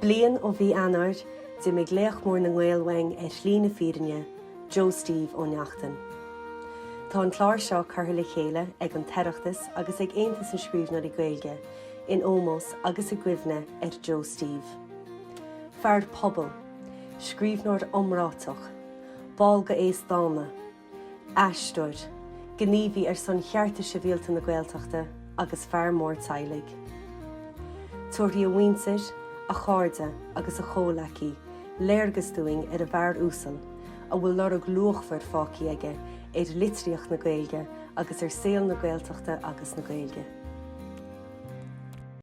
Bliain ó mhí Eanáir, d'imigh laoch mór na nGael uainn ar shlí na fírinne, Joe Steve Ó Neachtain. Tá an clár seo curtha le chéile ag An tOireachtas agus ag Aontas na Scríbhneoirí Gaeilge in ómós agus i gcuimhne ar Joe Steve. Fear pobail. Scríbhneoir iomráiteach. Ball de Aosdána. aisteoir, gníomhaí ar son Chearta Sibhialta na Gaeltachta agus fear mór teaghlaigh. Tabharfaidh a mhuintir, a chairde agus a chomhleacaí léargas dúinn ar an bhfear uasal a bhfuil lorg luachmhar fágtha aige ar litríocht na Gaeilge agus ar saol na Gaeltachta agus na Gaeilge.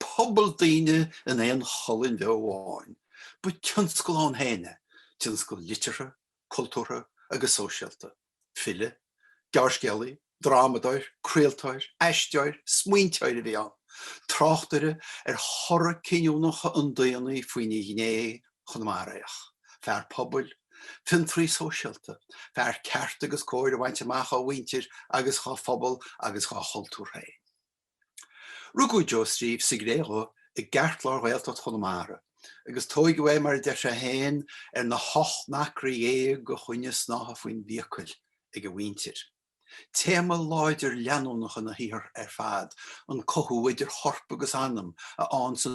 pobal daoine in aon cholainn bheo amháin, ba tionscal ann féin é, tionscal liteartha, cultúrtha agus sóisialta, file, gearrscéalaí, drámadóir, craoltóir, aisteoir, smaointeoir a bhí ann, tráchtaire ar chora cinniúnacha an daonnaí faoina ghné Chonamaraioch, fear pobail, fiontraí sóisialta, fear cearta agus cóir a bhaint amach dhá mhuintir agus dhá phobal agus dhá chultúr féin. Rugadh Joe Steve sa gCré Dhubh i gceartlár Ghaeltacht Chonamara agus tóigeadh é, mar a deir sé féin, ar na hocht n-acra dhéag a choinnigh snáithe faoin bhfiacail ag a mhuintir. Téama láidir leanúnach ina shaothar ar fad an cothú idir chorp agus anam a fhánn sa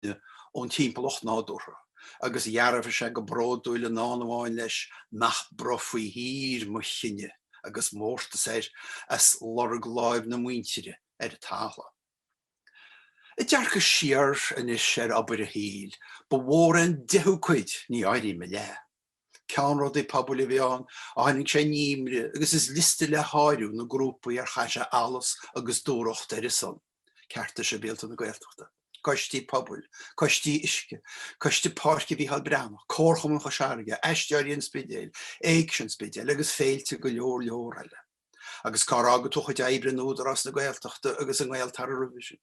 dhuine ón timpeallacht nádúrtha agus dhearbhaigh sé go bródúil i ndán amháin leis nach bruith faoi thír mo chine agus mórtas air as lorg láimh na muintire ar a tadhall. Ag dearcadh siar anois ar obair a shaoil, ba mhór ann deichiú cuid, ní áirím a leath. Ceannródaí pobail a bhí ann ó tháinig sé in inmhe agus is liosta le háireamh na grúpaí ar chaith sé allas agus dúthracht ar a son. Cearta Sibhialta na Gaeltachta, Coiste Pobail, Coistí Uisce, Coiste Páirce Mhíchíl Bhreathnaigh, Comharchumann Chois Fharraige, Aisteoirí an Spidéil, Éigse an Spidéil agus féilte go leor leor eile. Agus cár fhága tú a chuid oibre in Údarás na Gaeltachta agus i nGaeltarra roimhe sin?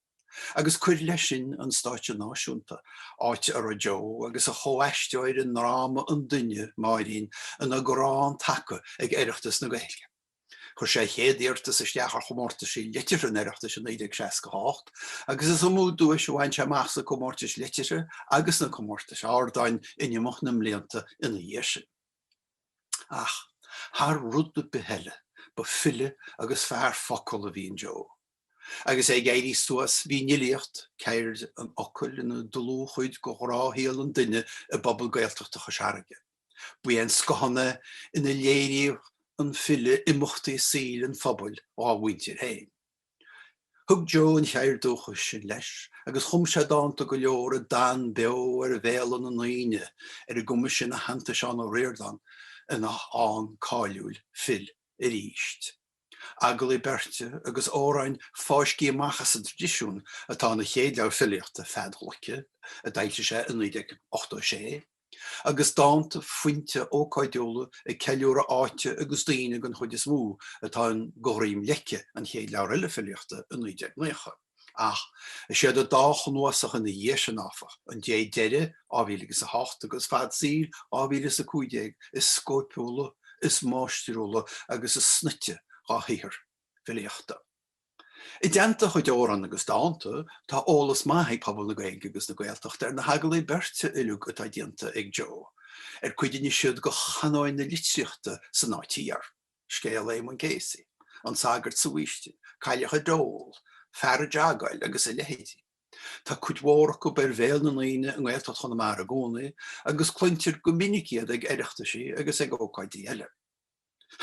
Agus cuir leis sin an Stáitse Náisiúnta, áit a raibh Joe agus a chomh-aisteoir i ndráma an tsaoil, Máirín, ina gcrann taca ag Oireachtas na Gaeilge. Chuir sé a chéad iarratas isteach ar chomórtais liteartha an Oireachtais i 1968 agus is iomaí duais a bhain sé amach sna comórtais liteartha agus sna comórtais ardáin in imeacht na mblianta ina dhiaidh sin. Ach thar rud ar bith eile, ba file agus fear focal a bhí in Joe. Agus é ag éirí suas, bhí an fhilíocht, ceird an fhocail ina dlúthchuid de ghnáthshaol an duine i bpobal Gaeltachta Chois Fharraige. Ba í an scáthán í ina léiríodh an file imeachtaí saoil an phobail dhá mhuintir féin. Thug Joe an cheird dúchais sin leis agus chum sé dánta go leor a d'fhan beo ar bhéala na ndaoine ar an gcuma sin a shantaigh Seán Ó Ríordáin ina dhán cáiliúil Fill Arís. Agallaimh beirte agus amhráin fáiscthe amach as an traidisiún atá ina chéad leabhar filíochta, Fead Ghlaice, a d'fhoilsigh sé in 1986, agus dánta fuinte ócáidiúla ag ceiliúradh áite agus daoine den chuid is mó atá in De Dhroim Leice, an chéad leabhar eile filíochta in 1990. Ach is iad an dá chnuasach ina dhiaidh sin, áfach, An Dé Deiridh, 2008 agus Fad Saoil, 2015, is scóipiúla, is máistriúla agus is snoite dá shaothar filíochta. I dteannta a chuid amhrán agus dánta, tá eolas maith ag pobal na Gaeilge agus na Gaeltachta ar na hagallaimh beirte uilig atá déanta ag Joe, ar cuid anois iad de chanóin na litríochta san áit thiar. Scéal Éamoinn Casey, an sagart is an maistín, cailleach an dole, fear i dteagmháil agus a leithéidí. Tá cuid mhór acu ar bhéal na ndaoine i nGaeltacht Chonamara i gcónaí agus cluintear go minic iad ag oireachtaisí agus ag ócáidí eile.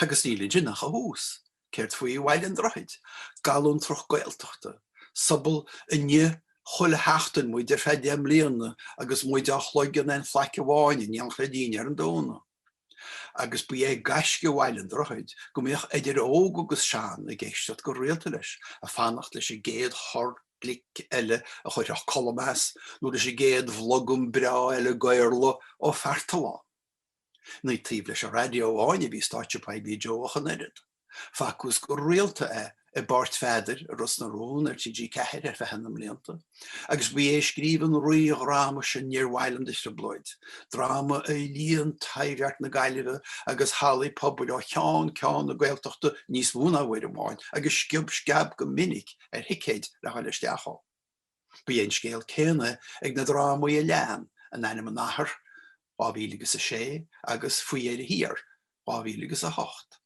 Agus níl ansin ach a thús, céard faoi Bhaile an Droichid, gallúntraí Gaeltachta, sobal a nigh chuile sheachtain muid ar feadh deich mbliana agus muid á shlogadh in aon phlaic amháin i ndéanchreidín ar an Domhnach. agus ba é gaisce Bhaile an Droichid go mbíodh idir óg agus sean ag éisteacht go rialta leis, ag fanacht leis an gcéad chor glic eile a chuirfeadh Colm as, nó leis an gcéad bhlogam breá eile Gaerla ó Pharthalán. Ní taobh leis an raidió amháin a bhí stáitse poiblí Joe ach an oiread. Facthas go rialta é i bpáirt Pheadair i Ros na Rún ar TG4 ar feadh na mblianta, agus ba é a scríobh an rí-dhráma sin Níor Mhaith Liom do Thrioblóid, dráma a líon Taibhdhearc na Gaillimhe agus hallaí pobail ó cheann ceann na Gaeltachta níos mó ná uair amháin agus sciob sceab go minic ar thicéid le dhul isteach ann. Ba é an scéal céanna ag na drámaí a lean In Ainm an Athar, 2006, agus Faoi Dheireadh Thiar, 2008.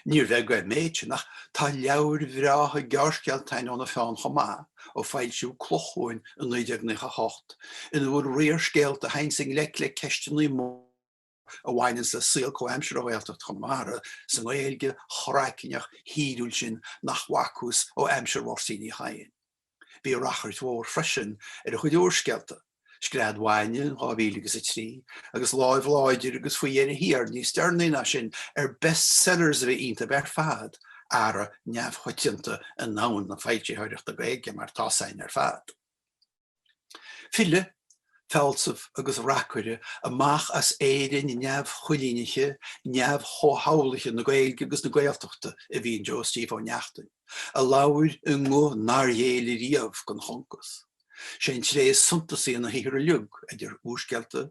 Níor bheag an méid sin ach tá leabhair bhreátha gearrscéalta ann óna pheann chomh maith, ó foilsíodh Clochmhóin i 1998, ina bhfuil riar scéalta a théanns i ngleic le ceisteanna a bhaineanns le saol comhaimseartha Ghaeltacht Chonamara sa nGaeilge chraicneach thíriúil sin nach bhfacthas ó aimsir Mháirtín Uí Chadhain. Bhí rachairt mhór freisin ar a chuid úrscéalta, Scread Mhaidne in 2003 agus Lámh Láidir agus Faoi Dheireadh Thiar níos deireanaí ná sin ar best sellers a bhí iontu ar fad, earra neamhchoitianta i ndomhan na foilsitheoireachta Gaeilge mar tá a fhios againn ar fad. File, fealsamh agus reacaire amach as Éirinn neamhchoilínithe neamh-chomhshamhlaithe na Gaeilge agus na Gaeltachta a bhí in Joe Steve Ó Neachtain, a labhair i nguth nár ghéill riamh don choncas. Sé an tréith is suntasaí ina shaothar uilig, idir úrscéalta,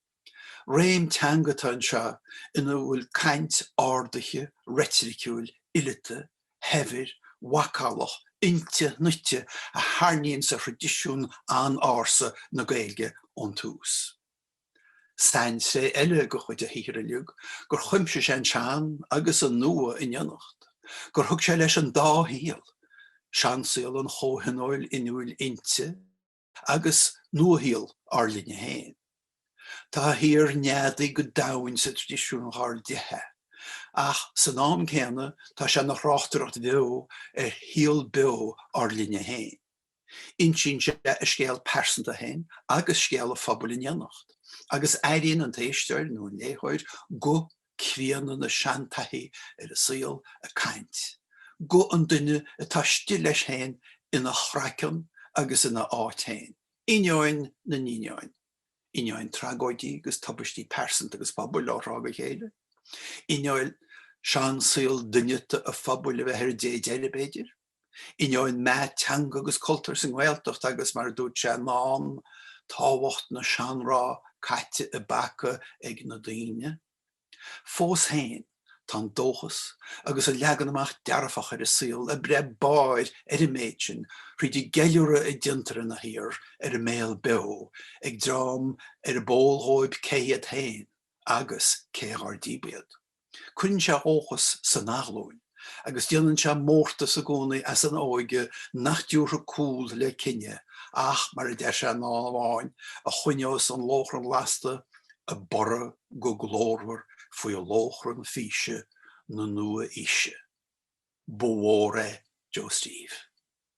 Réim teanga atá anseo ina bhfuil caint ardaithe, reitriciúil, fhileata, shaibhir, mhacallach, oilte, shnoite a tharraingíonn as traidisiún an-ársa na Gaeilge ón tús. Saintréith eile de chuid a shaothair uilig gur chuimsigh sé an sean agus an nua in éineacht, gur thug sé leis an dá shaol, seansaol an chomhthionóil fhuinniúil fhuinte, agus nuashaol ár linne féin. Tá a shaothar neadaithe go domhain sa traidisiún ardaithe, ach san am céanna tá sé ina thráchtaireacht bheo ar shaol beo ár linne féin. Insíonn sé a scéal pearsanta féin agus scéal a phobail in éineacht, agus airíonn an t-éisteoir nó an léitheoir guth críonna na seantaithí ar an saol ag caint, guth an duine atá istigh leis féin ina chraiceann agus ina áit féin, ainneoin na n-ainneoin, ainneoin tragóidí agus tubaistí pearsanta agus pobail ó thráth go chéile, ainneoin seansaol duineata a phobail a bheith ar an dé deiridh, b'fhéidir. Ainneoin meath teanga agus cultúir sa nGaeltacht agus, mar a dúirt sé i ndán, tábhacht na seanrá caite i bpaca ag na daoine, fós féin tá an dóchas agus an leagan amach dearfach ar an saol ag breith bairr ar an méid sin thríd an gceiliúradh a déantar ina shaothar ar an mbéal beo ag dream arb eol dhóibh cé hiad féin agus cé dhár díobh iad. Cuireann sé dóchas san athghlúin agus déanann sé mórtas i gcónaí as an óige nach dtiúrfaidh cúl le cine ach, mar a deir sé i ndán amháin, a choinneos an lóchrann lasta ag borradh go glórmhar faoi lóchrann físe na nua-aoise. Ba mhór é Joe Steve.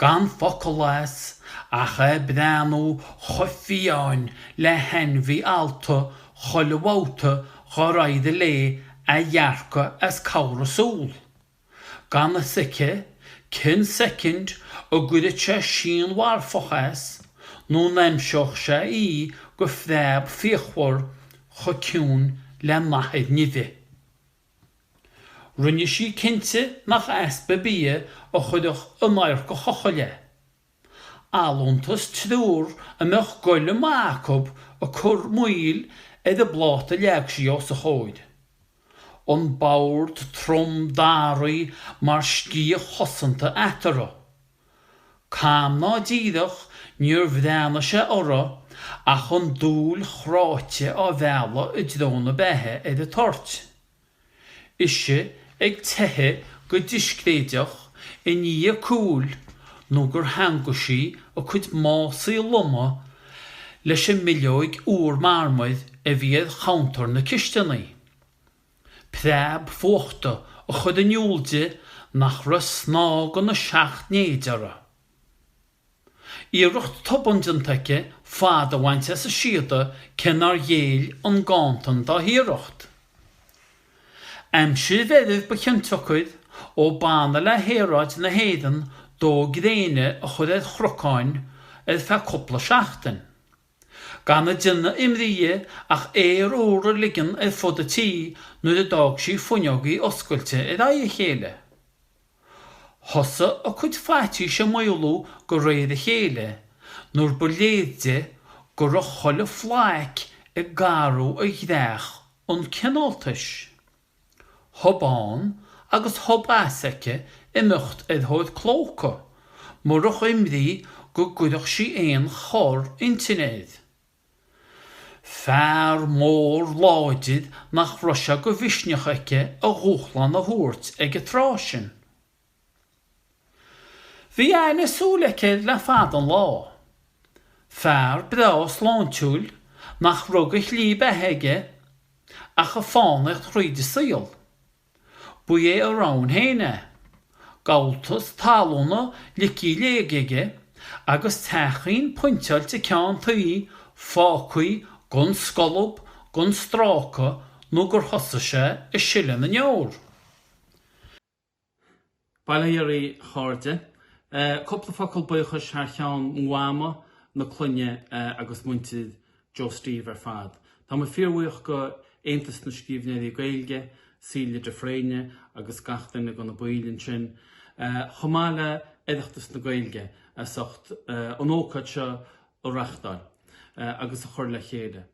gan focal as ach é breathnú chomh fiáin le hainmhí allta chuile bhabhta dhár éirigh léi a dhearcadh as corr a súl, gan fhios aici cén soicind a gcuirfeadh sé sian mharfach as nó n-aimseodh sé í go phreab fíochmhar chomh ciúin le nathair nimhe. Rinne sí cinnte nach easpa bia a chuirfeadh in adharc an chochaill é. allúntas triúr a mbeadh goile maith acu a cur maoil ar an bpláta a leag sí os a chomhair. An bord trom daraí mar sciath chosanta eatarthu. Cam ná díreach níor bhreathnaigh sé uirthi ach an dúil chráite á mhealladh i dtreo na beatha ar an toirt, ise ag teitheadh go discréideach i ndiaidh a cúil nó gur theangaigh sí a cuid másaí loma leis an mbileoig fhuar marmair a bhí ar chuntar na cisteanaí. preab fuachta a chuir in iúl di nach raibh snáth go na seacht n-éide uirthi. Iarracht tobann déanta aici fad a bhaint as a síoda cé nár ghéill an ganntan dá hiarracht. Aimsir mheirbh ba chiontsiocair ó b'annamh le haeráid na hÉireann dó gréine a chur ar chrocáin ar feadh cúpla seachtain. gan a déanamh imní dhi ach aer úr a ligean ar fud a' tí nuair a d'fhág sí fuinneogaí oscailte ar aghaidh a chéile. Thosaigh a cuid faitís a maolú go réir a chéile nuair ba léir di go raibh chuile phlaic ag athrú a dhreach 'un cineáltais. hob ann agus hob as aici imeacht ar thóir clóca, murach imní go gcuirfeadh sí aon chor intinne air. Fear mór láidir nach raibh sé go mhisneach aici a dhúshlán a thabhairt ag an tráth sin. Bhí aithne súl aici le fada an lá. Fear breá sláintiúil nach raibh go shlí beatha aige ach a fánaíocht thríd a saol. Ba é a roghain féin é. Gabháltas talúna ligthí i léig aige agus teachín pointeáilte ceann tuí fágthaí gan scolb gan stráca nó gur thosaigh sé a sileadh na ndeor. Bail oraibh, a chairde. Cúpla focal buíochais thar cheann Mhama na clainne agus mhuintir Joe Steve ar fad. Tá muid fíorbhuíoch go Aontas na Scríbhneoirí Gaeilge, Celia de Fréine agus gach duine de na baill ansin, chomh maith le Oireachtas na Gaeilge as ucht an ócáid seo a reachtáil agus a chur le chéile.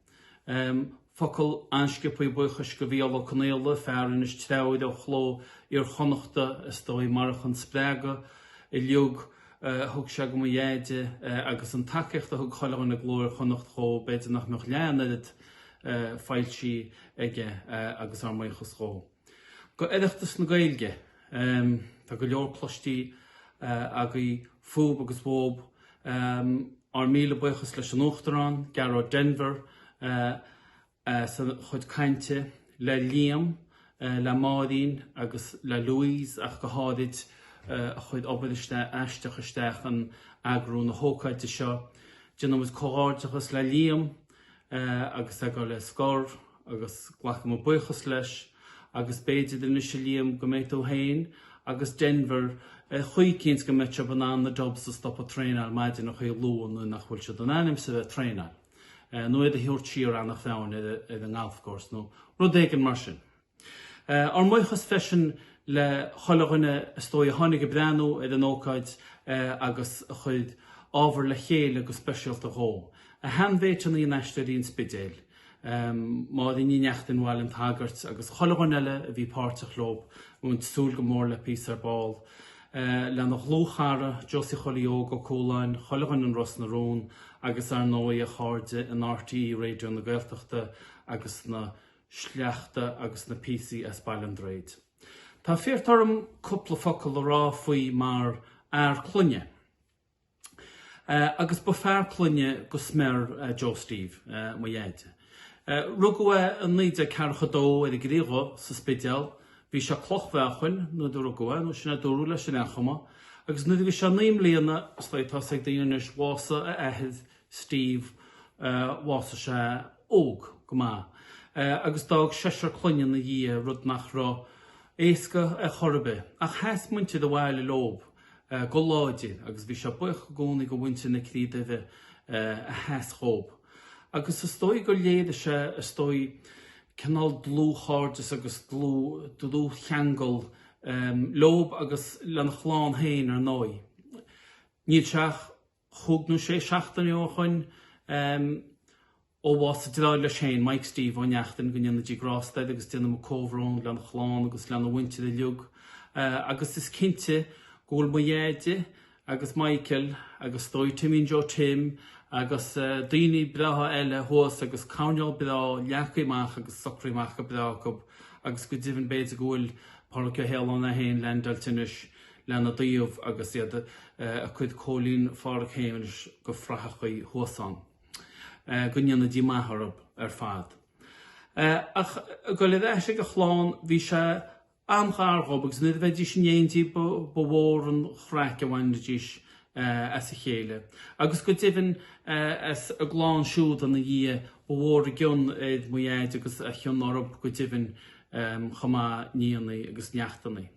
focal an-sciopthaí buíochais go Mhícheál Ó Conghaile, fear Inis Treabhair ó Chló Iar-Chonnachta, is dóigh, marach an spreagadh uiliug a thug sé go mo Dhaid agus an tacaíocht a thug chuile dhuine i gCló Iar-Chonnacht dhó, b'fhéidir nach mbeadh leath an oiread foilsithe aige agus ár mbuíochas dhó. Go Oireachtas na Gaeilge. Tá go leor cloistí agaibh fúb agus bhób. Ár míle buíochas leis an Uachtarán, Gearóid Denvir, as a chuid cainte, le Liam, le Máirín agus le Louise ach go háirid a chuir obair aisteach isteach in eagrú na hócáide seo. Déanaimid comhghairdeachas le Liam agus ag dul le scor agus glacann muid buíochas leis agus b'fhéidir anois a Liam go mbeidh tú féin agus Denvir chaoi eicínt go mbeidh sibh in ann na Dubs a stopadh traenáil maidineachaí Luain nuair nach bhfuil siad in ainm is a bheith traenáil nó iad a thabhairt siar Eanach Mheáin ar an ngolf course nó rud éigin mar sin. Ár mbuíochas freisin le chuile dhuine, is dóigh, a tháinig ag breathnú ar an ócáid agus a chuir ábhar le chéile go speisialta dhó, a shean-mhéiteanna in Aisteoirí an Spidéil, Máire Ní Neachtain Bhaile an tSagairt agus chuile dhuine eile a bhí páirteach leob, beidh muid ag súil go mór le píosa ar ball. lena dhlúthchara, Josie Chóilí Óg Ó Cualáin, chuile dhuine in Ros na Rún agus, ar ndóigh, a chairde in RTÉ Raidio na Gaeltachta agus sna. sleachta agus na píosaí as Baile an Droichid. Tá iarrtha orm cúpla focal a rá faoi mar fhear clainne. Agus ba fear clainne go smior Joe Steve, mo Dhaid. Rugadh é i 1942 ar an gCré Dhubh, sa Spidéal. Bhí sé cloch mheáchain nuair a rugadh é, nó sin a dúradh leis in aon chuma, agus nuair a bhí sé naoi mbliana, is léir tá fhios ag daoine anois, bhásaigh a athair Steve, Bhásaigh sé óg go maith agus d'fhág seisear clainne ina dhiaidh, rud nach raibh éasca ar chor ar bith. Ach sheas muintir an bhaile leo go láidir agus bhí sé buíoch i gcónaí de mhuintir na Cré Duibhe a sheas dhóib. Agus is dóigh gur léirigh sé, is dóigh, cineál dlúthchairdeas agus dlúthcheangal leo agus lena chlann féin, ar ndóigh. Níl sé ach chúig nó sé seachtaine ó shoin, ó bhásaigh a dhreatháir leis féin, Mike Steve Ó Neachtain, go ndéana Dia grásta air agus déanaim mo comhbhrón lena chlann agus lena mhuintir uiliug agus is cinnte go bhfuil mo dheaide agus Michael agus is dóigh Timín Joe Tim agus daoine breátha eile thuas agus comhluadar breá leacaí amach agus socraí amach go breá acu agus go deimhin b'fhéidir go bhfuil Pádraig Ó hAoláin é féin leaindeáilte anois lena dtaobh agus iad ag cur Cóilín Phádraig Shéamais go frathachaí thuas ann. Go ndéana Dia maith orthu ar fad. Ach dhá leath acu a chlann, bhí sé an-ghar dhóibh agus nuair a bheidís in éindí ba mhór an chraic a bhainfidís as a chéile. Agus go deimhin as a gclann siúd ina dhiaidh, ba mhór a gcion ar mo Dheaid agus a chion orthu go deimhin chomh maith, nianna agus neachtanaigh.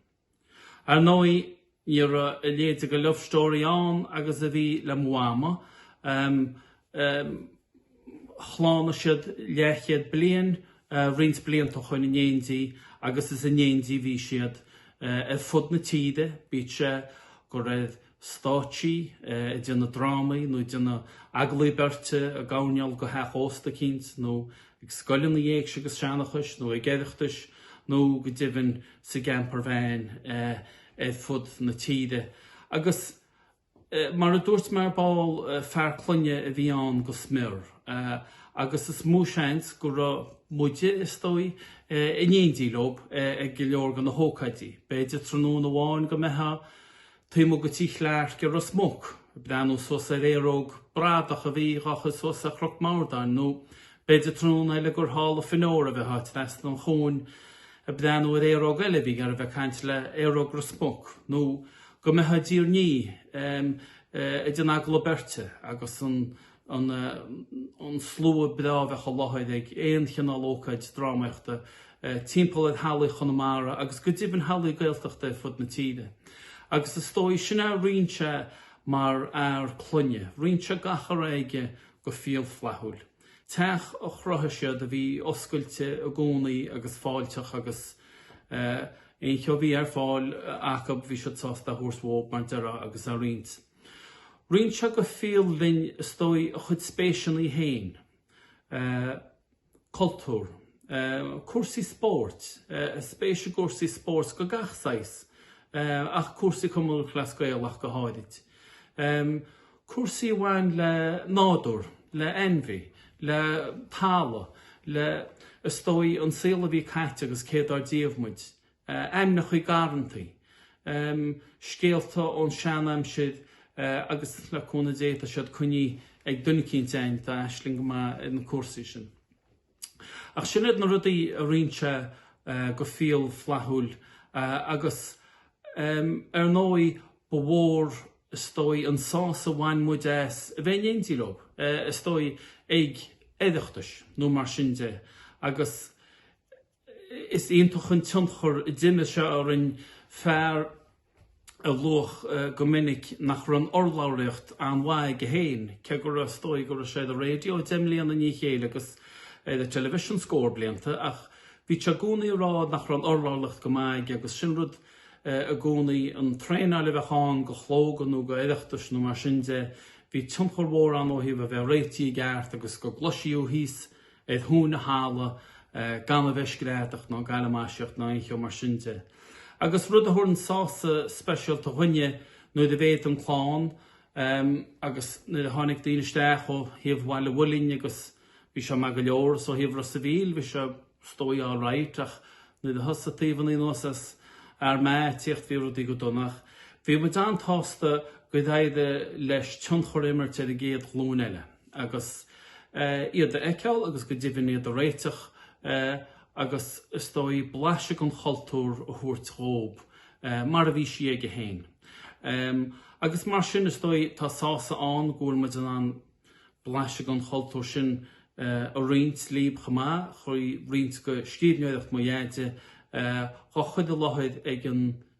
Ar ndóigh, ní raibh a leithéid de love story ann agus a bhí le mo Mhama, shlánaigh siad leathchéad bliain roinnt blianta ó shoin in éindí agus is in éindí a bhí siad ar fud na tíre, bíodh sé go raibh stáitsí, ag déanamh drámaí nó ag déanamh agallaimh beirte, ag gabhail go theach ósta eicínt, nó ag scoileanna éigse agus seanchais, nó ag oireachtais, nó go deimhin sa gcamper van ar fud na tíre. Agus mar a dúirt mé ar ball, fear clainne a bhí ann go smior, agus is mó seans go raibh muide, is dóigh, in éindí leo ag go leor de na hócáidí. B'fhéidir tráthnóna amháin go mbeitheá Taobh amuigh de Tigh Chlarke i Ros Muc, ag breathnú suas ar aeróg bradach a bhí dhá chur suas ar Chnoc Mordáin, nó b'fhéidir tráthnóna eile gur thall a Fennor a bheitheá trasna an chuain ag breathnú ar aeróg eile a bhí ag iarraidh a bheith ag caint le aeróg Ros Muc, nó go mbeitheá i dTír an Fhia, em, eh, ag agallamh beirte agus an. an slua breá a bheadh i láthair ag aon chineál ócáid drámaíochta timpeall ar hallaí Chonamara agus go deimhin hallaí Gaeltachta ar fud na tíre. Agus is dóigh, sin é a roinn sé mar fhear clainne. Roinn sé gach a raibh aige go fial flaithiúil. Teach a chruthaigh siad a bhí oscailte i gcónaí agus fáilteach agus aon cheo a bhí ar fáil acu bhí siad sásta a thabhairt uathu mar a déarfá agus a roinnt. Roinn sé go fial linn, is dóigh, a chuid spéiseanna féin, cultúr, cúrsaí spóirt, spéis i gcúrsaí spóirt de gach saghas ach cúrsaí Chumann Lúthchleas Gael ach go háirid, cúrsaí a bhain le nádúr, le ainmhí, le talamh, le, is dóigh, an saol a bhí caite agus cé dár díobh muid, ainmneacha garrantaí, scéalta ón sean-aimsir agus le cúnamh Dé tá siad coinnithe ag duine eicínt fhéin tá Aisling go maith ar na cúrsaí sin. Ach sin iad na rudaí a roinn sé go fial flaithiúil agus ar ndóigh ba mhór is dóigh an sásamh a bhain muid as a bheith in éindí leo, is dóigh ag Oireachtais nó mar sin de agus Is iontach an tionchar a d'imir sé orainn, fear a luadh go minic nach raibh an urlabhraíocht an-mhaith aige féin, cé gur is dóigh go raibh sé ar an raidió deich mbliana i ndiaidh a chéile agus ar an television scór blianta, ach bhíodh sé i gcónaí ag rá nach raibh an urlabhraíocht go maith aige agus sin rud i gcónaí, an traenáil a bheadh ann do Shlógadh nó d'Oireachtais nó mar sin de, bhí tionchar mhór ann ó thaobh a bheith réitithe i gceart agus go gcloisfí thú thíos ar thóin an halla gan a bheith ag screadach ná ag galamaisíocht ná aon cheo mar sin de. Agus rud a thugann sásamh speisialta dhúinne nuair a mhéadaigh an clann agus nuair a tháinig daoine isteach ó thaobh Bhaile an Mhuilinn agus bhí sé maith go leor is ó thaobh Ros a' Mhíl bhí sé is dóigh alright ach nuair a thosaigh taobh an anuas as Armagh a' tíocht bhí rudaí go dona ach bhí muid an-tsásta gur éirigh leis tionchar a imirt ar an gcéad ghlúin eile. agus iad a fheiceáil agus go deimhin iad a réiteach agus, is dóigh, blaiseadh den chultúr a thabhairt dhóib mar a bhí sí aige féin. Agus mar sin, is dóigh, tá sásamh ann go bhfuil muid in ann blaiseadh den chultúr sin a roinnt líob chomh maith, cuirfear roinnt de scríbhneoireacht mo dheaide, dá chuid i láthair ag an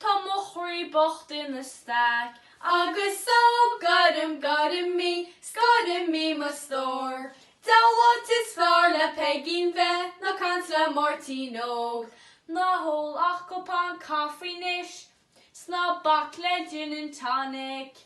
Tá mo chroí bocht ina staic. Agus ó, goirim, goirim í, 's goirim í mo stór, Deabhal áit is fearr le Peigín bheith ná caint le Máirtín Óg, Ná hól ach cupán caife anois, 's ná bac le gin and tonic.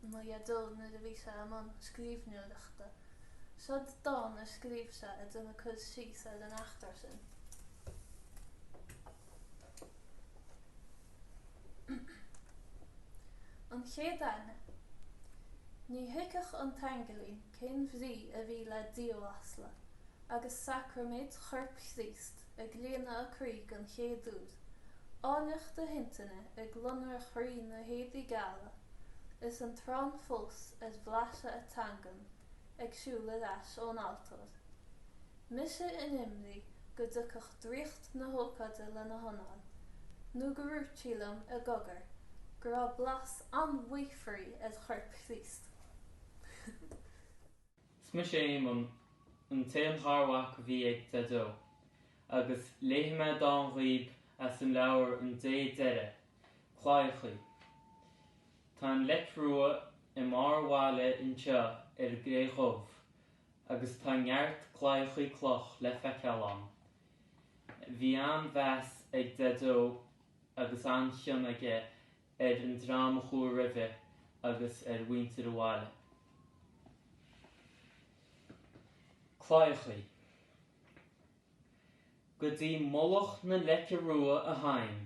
1992 nuair a bhí sé i mbun scríbhneoireachta. Seod dán a scríobh sé ag déanamh cur síos ar an eachtra sin. An Chéad Aithne. Ní thuigfeadh an t-aingilín cén bhrí a bhí le diamhasla agus sacraimint Choirp Chríost. ag líonadh a croí den chéad uair, áilleacht a hintinne ag lonradh thrí na héadaí geala, is an t-arán fós ar bhlas a teangan ag siúl ar ais ón altóir. Mise in imní go dtiocfadh draíocht na hócáide lena hanáil, nó gur dhúirt sí liom i gcogar go raibh blas an wafer ar Chorp Chríost. Is mise Éamonn, an t-aon gharmhac a bhí ag Deaideo, agus léifidh mé dán dhaoib as an leabhar An Dé Deiridh, Claíochaí. Tá an Leic Rua i mbarr an bhaile anseo ar an gCré Dhubh, agus tá neart claíochaí cloch le feiceáil ann. Bhí an-mheas ag Deaideo agus an-chion aige ar an dream a chuaigh roimhe agus ar mhuintir an bhaile. Claíochaí. Go dtí mullach na Leice Rua a théim,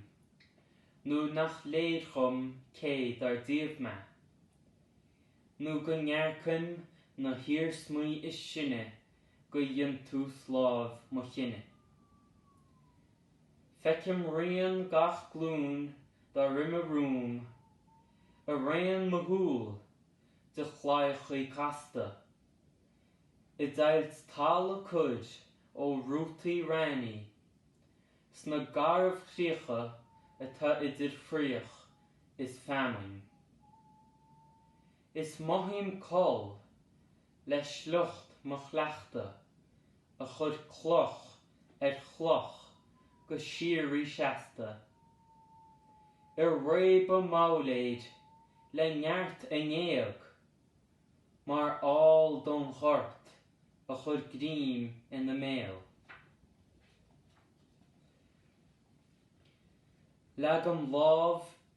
nuair nach léir dhom cé dar díobh mé, nó go ndearcaim na hiarsmaí is sine de dhéantús lámh mo chine. Feicim rian gach glúin dár imigh romham i raon mo shúl de chlaíochaí casta, ag deighilt tall a cuid ó rútaí raithní, sna garbhchríocha atá idir fraoch is feamainn. Is mothaím col le sliocht mo shleachta a chuir cloch ar chloch go síoraí seasta. Ag réabadh moghlaeir le neart a ngéag mar fhál don ghort a chuir greim ina mbéal. Leagaim lámh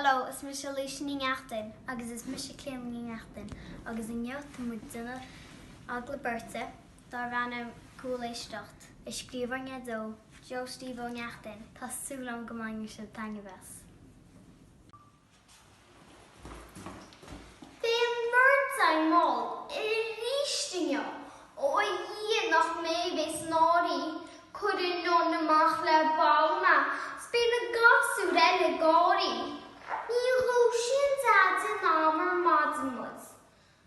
Hello, is mise Laoise Ní Neachtain. Agus is mise Clíodhna Ní Neachtain agus inniu tá muid ag déanamh agallamh beirte darbh ainm Cúléisteacht a scríobh ár nDaideo, Joe Steve Ó Neachtain. Tá súil agam go mbainfidh sibh taitneamh as. Beidh an bheirt againn mall aríst inniu Ó a Dhia nach mé a bheas náirithe, cuirfidh an nun amach le balla mé, 's beidh na gasúir eile ag gáirí. Ní dhúisíonn Deaid in am ar maidin muid,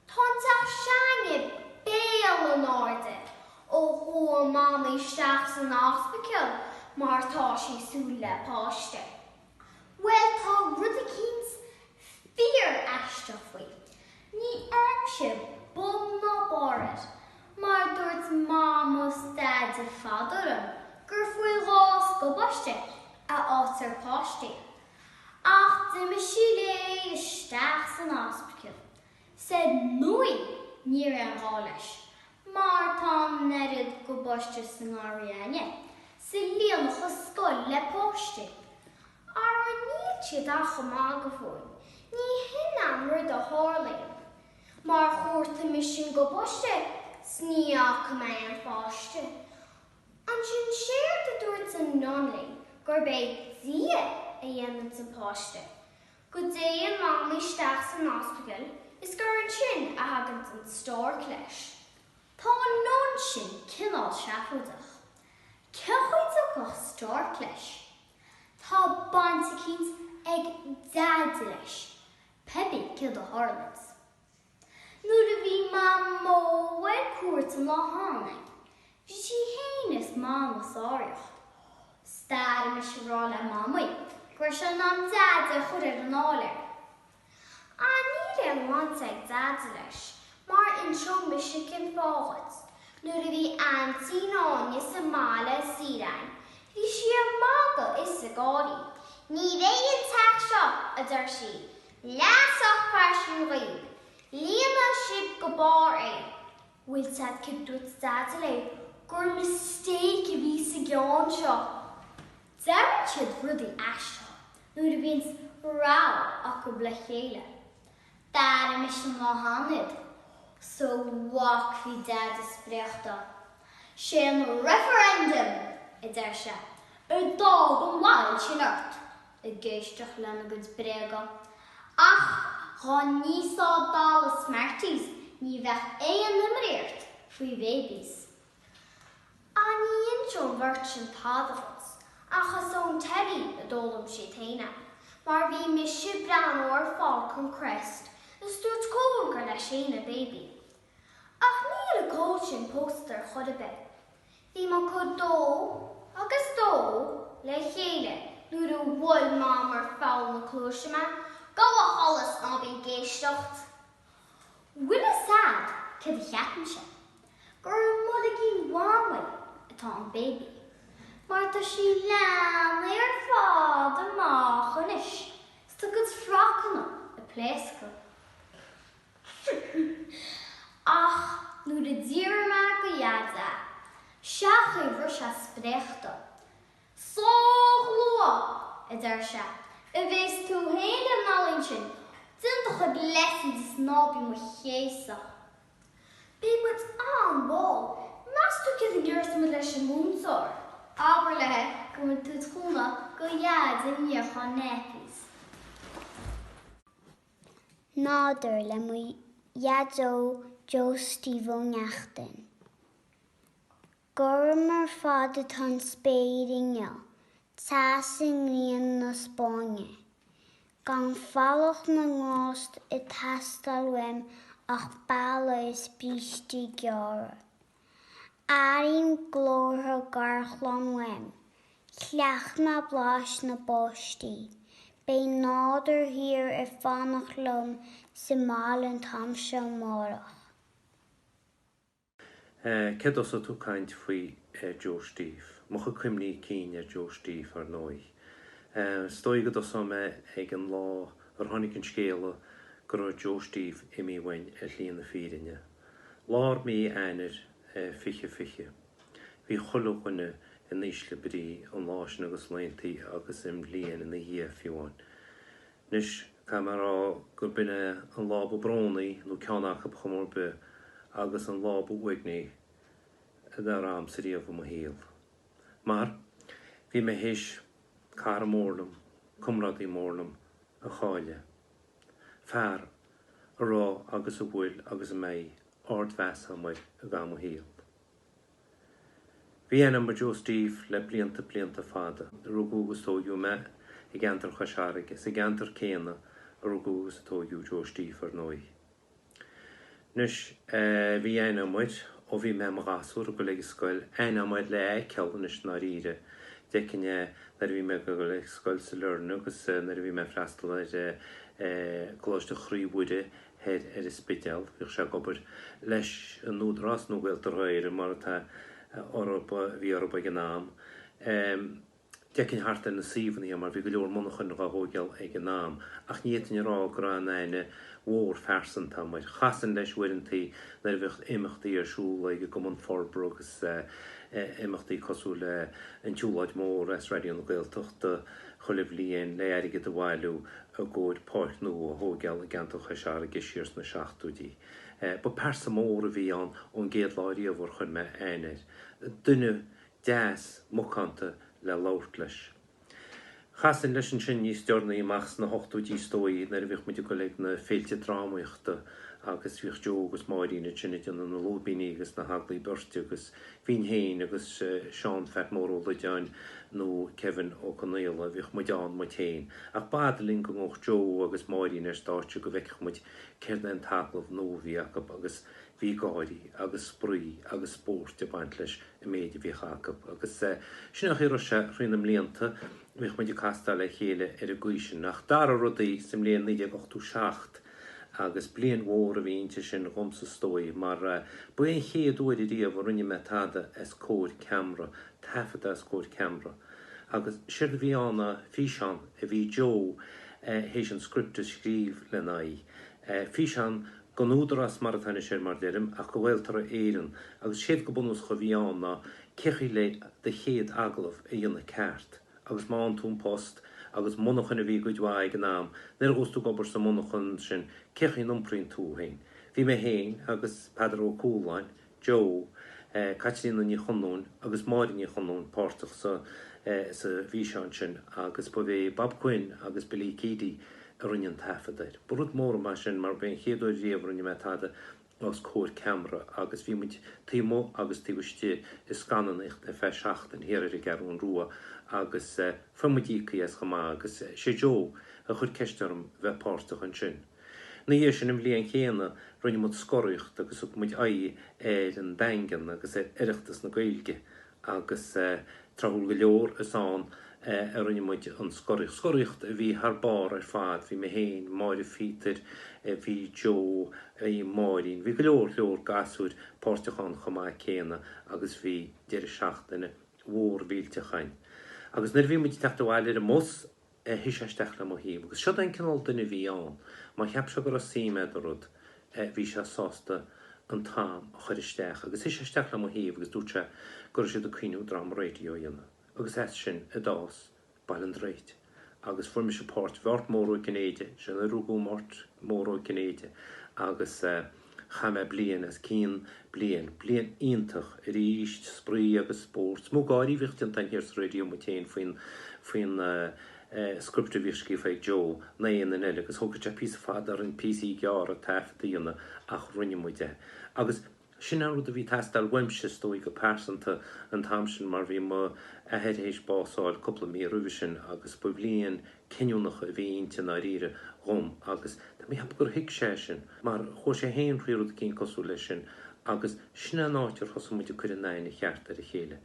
tá an teach s'againne béal in airde ó chuaigh Mamaí isteach san ospical mar tá sí 'súil le páiste. Bhuel tá rud eicínt fíor-aisteach faoi. Ní fhaighimse bun ná barr air, mar dúirt Mamó 's Daide fadó liom gur faoi ghas gabáiste a fháitear páistí, ach d'imigh sí léi isteach san aspaicil 'S ar ndóigh ní raibh aon ghá leis, mar tá an oiread gabáiste sa ngarraí againne, 's a líonfadh scoil le páistí, ara níl siad ach ag magadh fúinn, ní hin an rud a tharlaíonn, mar chuartaigh mise an gabáiste 's ní fhaca mé aon pháiste. Ansin séard a dúirt an mionlaigh gurb é Dia a dhéananns an páiste, go dtéigh an mamaí isteach san ospideal is gur ansin a thaganns an storc leis. Tá an ceann sin cineál seafóideach. Cé chaoi dtiocfadh storc leis? Tá baint eicínt ag Deaid leis, pé bí céard a tharlaíonns. Nuair a bhí Mamó ar cuairt an lá tháinig, bhí sí fhéin is Mam ag sáraíocht. 'S d'airigh mise í ag rá le Mamaí go raibh sé in am Deaide a chur ar an áiléar. Ach ní raibh aon bhaint ag Deaide leis mar inseoidh mise cén fáth. Nuair a bhí Aintín Áine sa mbaile saor ann, bhí sí ag magadh is ag gáirí. Ní bheidh an teach seo, a deir sí, Leath sách fairsing dhaoib, líonfaidh sib go barr é. Bhfuil a fhios a'd céard dúirt Deaide léi gur mistake a bhí sa gceann seo? Deireann siad rudaí aisteacha nuair a bhíonns row acub le chéile. D'airigh mise mo Mhamaí 's a mhac bhí Deaide spréachta. Sé an referendum, a deir sé, a d'fhág an bhail sin ort. ag éisteacht lena gcuid bréaga, ach dhá n-íosfá dalladh Smarties ní bheadh aon imní ort faoi bhabies. Ach ní inseodh an bheirt sin tada fós, ach is ón telly a d'fhoghlaim siad féin é, mar bhí mise ag breathnú ar Falcon Crest is dúirt Cole gur leis féin an baby. Ach ní raibh Cole sin pósta ar chor ar bith. Bhí mé ag cur dó agus dó le chéile nuair a bhuail Mam faoi pholl na cluaise mé, Gabh a chodladh is ná bí ag éisteacht! Bhfuil a fhios a'd céard a cheapaimse? Gur i mboilgín Mhamaí atá an béibí, mar tá sí leathnaithe ar fad amach anois 's a cuid frocanna ag pléascadh. Ach nuair a d'iarr mé go Dheaide, sea chuir sé spréachta. Sách luath, a deir sé, a bhéas tú féin ar an ealaín sin, déan do chuid lessons is ná bí 'mo chéasadh. Beidh muid an-mhall, meas tú céard a déarfas muid leis an múinteoir? Abair leis go bhfuil tú ag cúnamh go Dheaide ag níochán nappies. Nádúr le mo Dhaideo Joe Steve Ó Neachtain. Gorm ar fad atá an spéir inniu, teas i ngrian na Spáinne. Gan falach na ngrást ag teastáil uaim ach bealadh is brístí gearra. Airím glórtha garchlann uaim, chleacht mé blas na báistí. Beidh nádúr thiar ag fanacht liom sa mbaile an t-am seo amárach. Cé dtosódh tú ag caint faoi Joe Steve? Mo chuid cuimhní cinn ar Joe Steve, ar ndóigh. Is dóigh go dtosóidh mé ag an lá ar tháinig an scéala go raibh Joe Steve imithe uainn ar shlí na fírinne. Lár mí Eanáir 2020, bhí chuile dhuine in ísle brí an lá sin agus laethantaí agus an bhliain ina dhiaidh fiú amháin. Anois, caithfidh mé a rá gurb in é an lá ba brónaí, nó ceann acu ar chuma ar bith, agus an lá ba uaigní a d'airigh mise riamh i mo shaol. Mar, bhí mé théis cara mór liom, comrádaí mór liom, a chailleadh. fear a raibh agus a bhfuil agus a mbeidh ardmheas agam air i gcaitheamh mo shaoil. Bhí aithne agam ar Joe Steve le blianta, blianta fada. Rugadh agus tóigeadh mé i gceantar Chois Fharraige, sa gceantar céanna a rugadh agus a tóigeadh Joe Steve ar ndóigh. Anois bhí aithne agam air ó bhí mé i mo ghasúr ag dul ag an scoil, aithne agam air le feiceáil anois i ndáiríre. D'fheicinn é nuair a bhí mé ag dul ag Scoil Sailearna agus nuair a bhí mé ag freastal ar Coláiste Chroí Mhuire thoir ar an Spidéal. Bhíodh sé ag obair leis an Údarás nó Gaeltarra Éireann mar atá, bhí orthu ag an am. D'fheicinn thart ar na suíomhanna é, mar bhí go leor monarchan dhá thóigéal ag an am, ach ní fhéadfainn a rá go raibh aon aithne mhór phearsanta agam air. Chasainn leis uaireantaí nuair a bhíodh imeachtaí ar siúl ag an gCumann Forbartha agus imeachtaí cosúil le an tSiúlóid Mhór as Raidió na Gaeltachta chuile bhliain le airgead a bhailiú i gcomhair páirc nua a thóigéal i gceantar Chois Fharraige siar sna seachtóidí. Ba pearsa mór a bhí ann ón gcéad lá riamh ar chuir mé aithne air. Duine. deas macánta le labhairt leis. Chasainn leis ansin níos deireanaí amach sna hochtóidí is dóigh nuair a bhíodh muid ag dul ag na féilte drámaíochta agus bhíodh Joe agus Máirín ansin ag déanamh na lúibíní agus na hagallaimh beirte agus bhínn féin agus Seán Phat Mór Ó Loideáin nó Kevin Ó Conaola, bhíodh muid ann muid féin ach b'fhada linn go ngabhfadh Joe agus Máirín ar stáitse go bhfeicfeadh muid céard é an t-agallamh nua a bhí acu agus Bhí gáirí agus spraoi agus spórt ag baint leis an méid a bhíodh acu, agus sin é an chaoi a raibh sé thrí na mblianta, bhíodh muid ag castáil le chéile ar an gcaoi sin. Ach d'athraigh rudaí sa mbliain 1987, agus bliain mhór a bhí inti sin dhomsa is dóigh, mar ba é an chéad uair ariamh a rinne mé tada as comhair ceamra, taifeadadh as comhair ceamra. Agus séard a bhí ann ná físeán a bhí Joe théis an script a scríobh lena aghaidh, físeán don Údarás mar atá anois air mar deirim, ach do Ghaeltarra Éireann, agus séard go bunúsach a bhí ann ná cén chaoi le do chéad agallamh a dhéanamh ceart, agus má fhaigheann tú an post, agus monarchain a bhí i gcuid mhaith ag an am, nuair a ghabhfas tú ag obair sa mhonarchan sin, cén chaoi a n-iompraíonn tú féin. Bhí mé féin agus Peadar Ó Cualáin, Joe, Caitríona Ní Chonláin agus Máire Ní Chonláin páirteach sa sa bhfíseán sin agus ba é Bob Quinn agus Billy Keady a rinne an taifead air. Ba rud mór agam é sin mar ba é an chéad uair riamh a rinne mé tada os comhair ceamara agus bhí muid taobh amuigh agus taobh istigh ag scannánaíocht ar feadh seachtain thiar ar an gCeathrú Rua agus fuair muid íoctha as chomh maith agus sé Joe a chuir ceist orm bheith páirteach ansin. Ina dhiaidh sin, an bhliain chéanna, rinne muid scoraíocht agus thug muid aghaidh ar an Daingean agus ar Oireachtas na Gaeilge agus, tráthúil go leor, is ann a rinne muid an scoraíocht, scoraíocht a bhí thar barr ar fad, bhí mé féin, Máire Pheter, bhí Joe, bhí Máirín, bhí go leor leor gasúir páirteach ann chomh maith céanna agus bhí deireadh seachtaine mhór mhillteach againn. Agus nuair a bhí muid ag teacht abhaile ar an mbus, shuigh sé isteach le mo thaobh, agus siod é an cineál duine bhí ann, má cheap sé go raibh suim agat i rud, bhí sé sásta an t-am a chur isteach, agus shuigh sé isteach le mo thaobh, agus dúirt sé go raibh siad ag cuimhneamh dráma raidió a dhéanamh, agus as sin a d'fhás Baile an Droichid, agus fuair mise páirt Mheáirt Mór Ó Cinnéide, sin é rugadh Meáirt Mór Ó Cinnéide, agus. Chaith mé bliain as cionn, bliain, bliain iontach, arís, spraoi agus spórt, is mó gáirí a bhíodh déanta thiar sa raidió muid féin faoin, faoin eh, script a bhíodh scríofa ag Joe, ná aon duine eile agus thógadh sé píosa fada orainn píosaí gearra taifeadta a dhéanamh ach rinne muid é agus sin an rud a bhí ag teastáil uaimse is dóigh go pearsanta an t-am sin mar bhí mo athair théis básáil cúpla mí roimhe sin agus ba bhliain cinniúnach a bhí inti i ndáiríre dhom agus tá mé ag ceapadh gur thuig sé sin mar chuaigh sé féin thrí rud eicínt cosúil leis sin agus sin é an áit ar thosaigh muid ag cur an aithne cheart ar a chéile.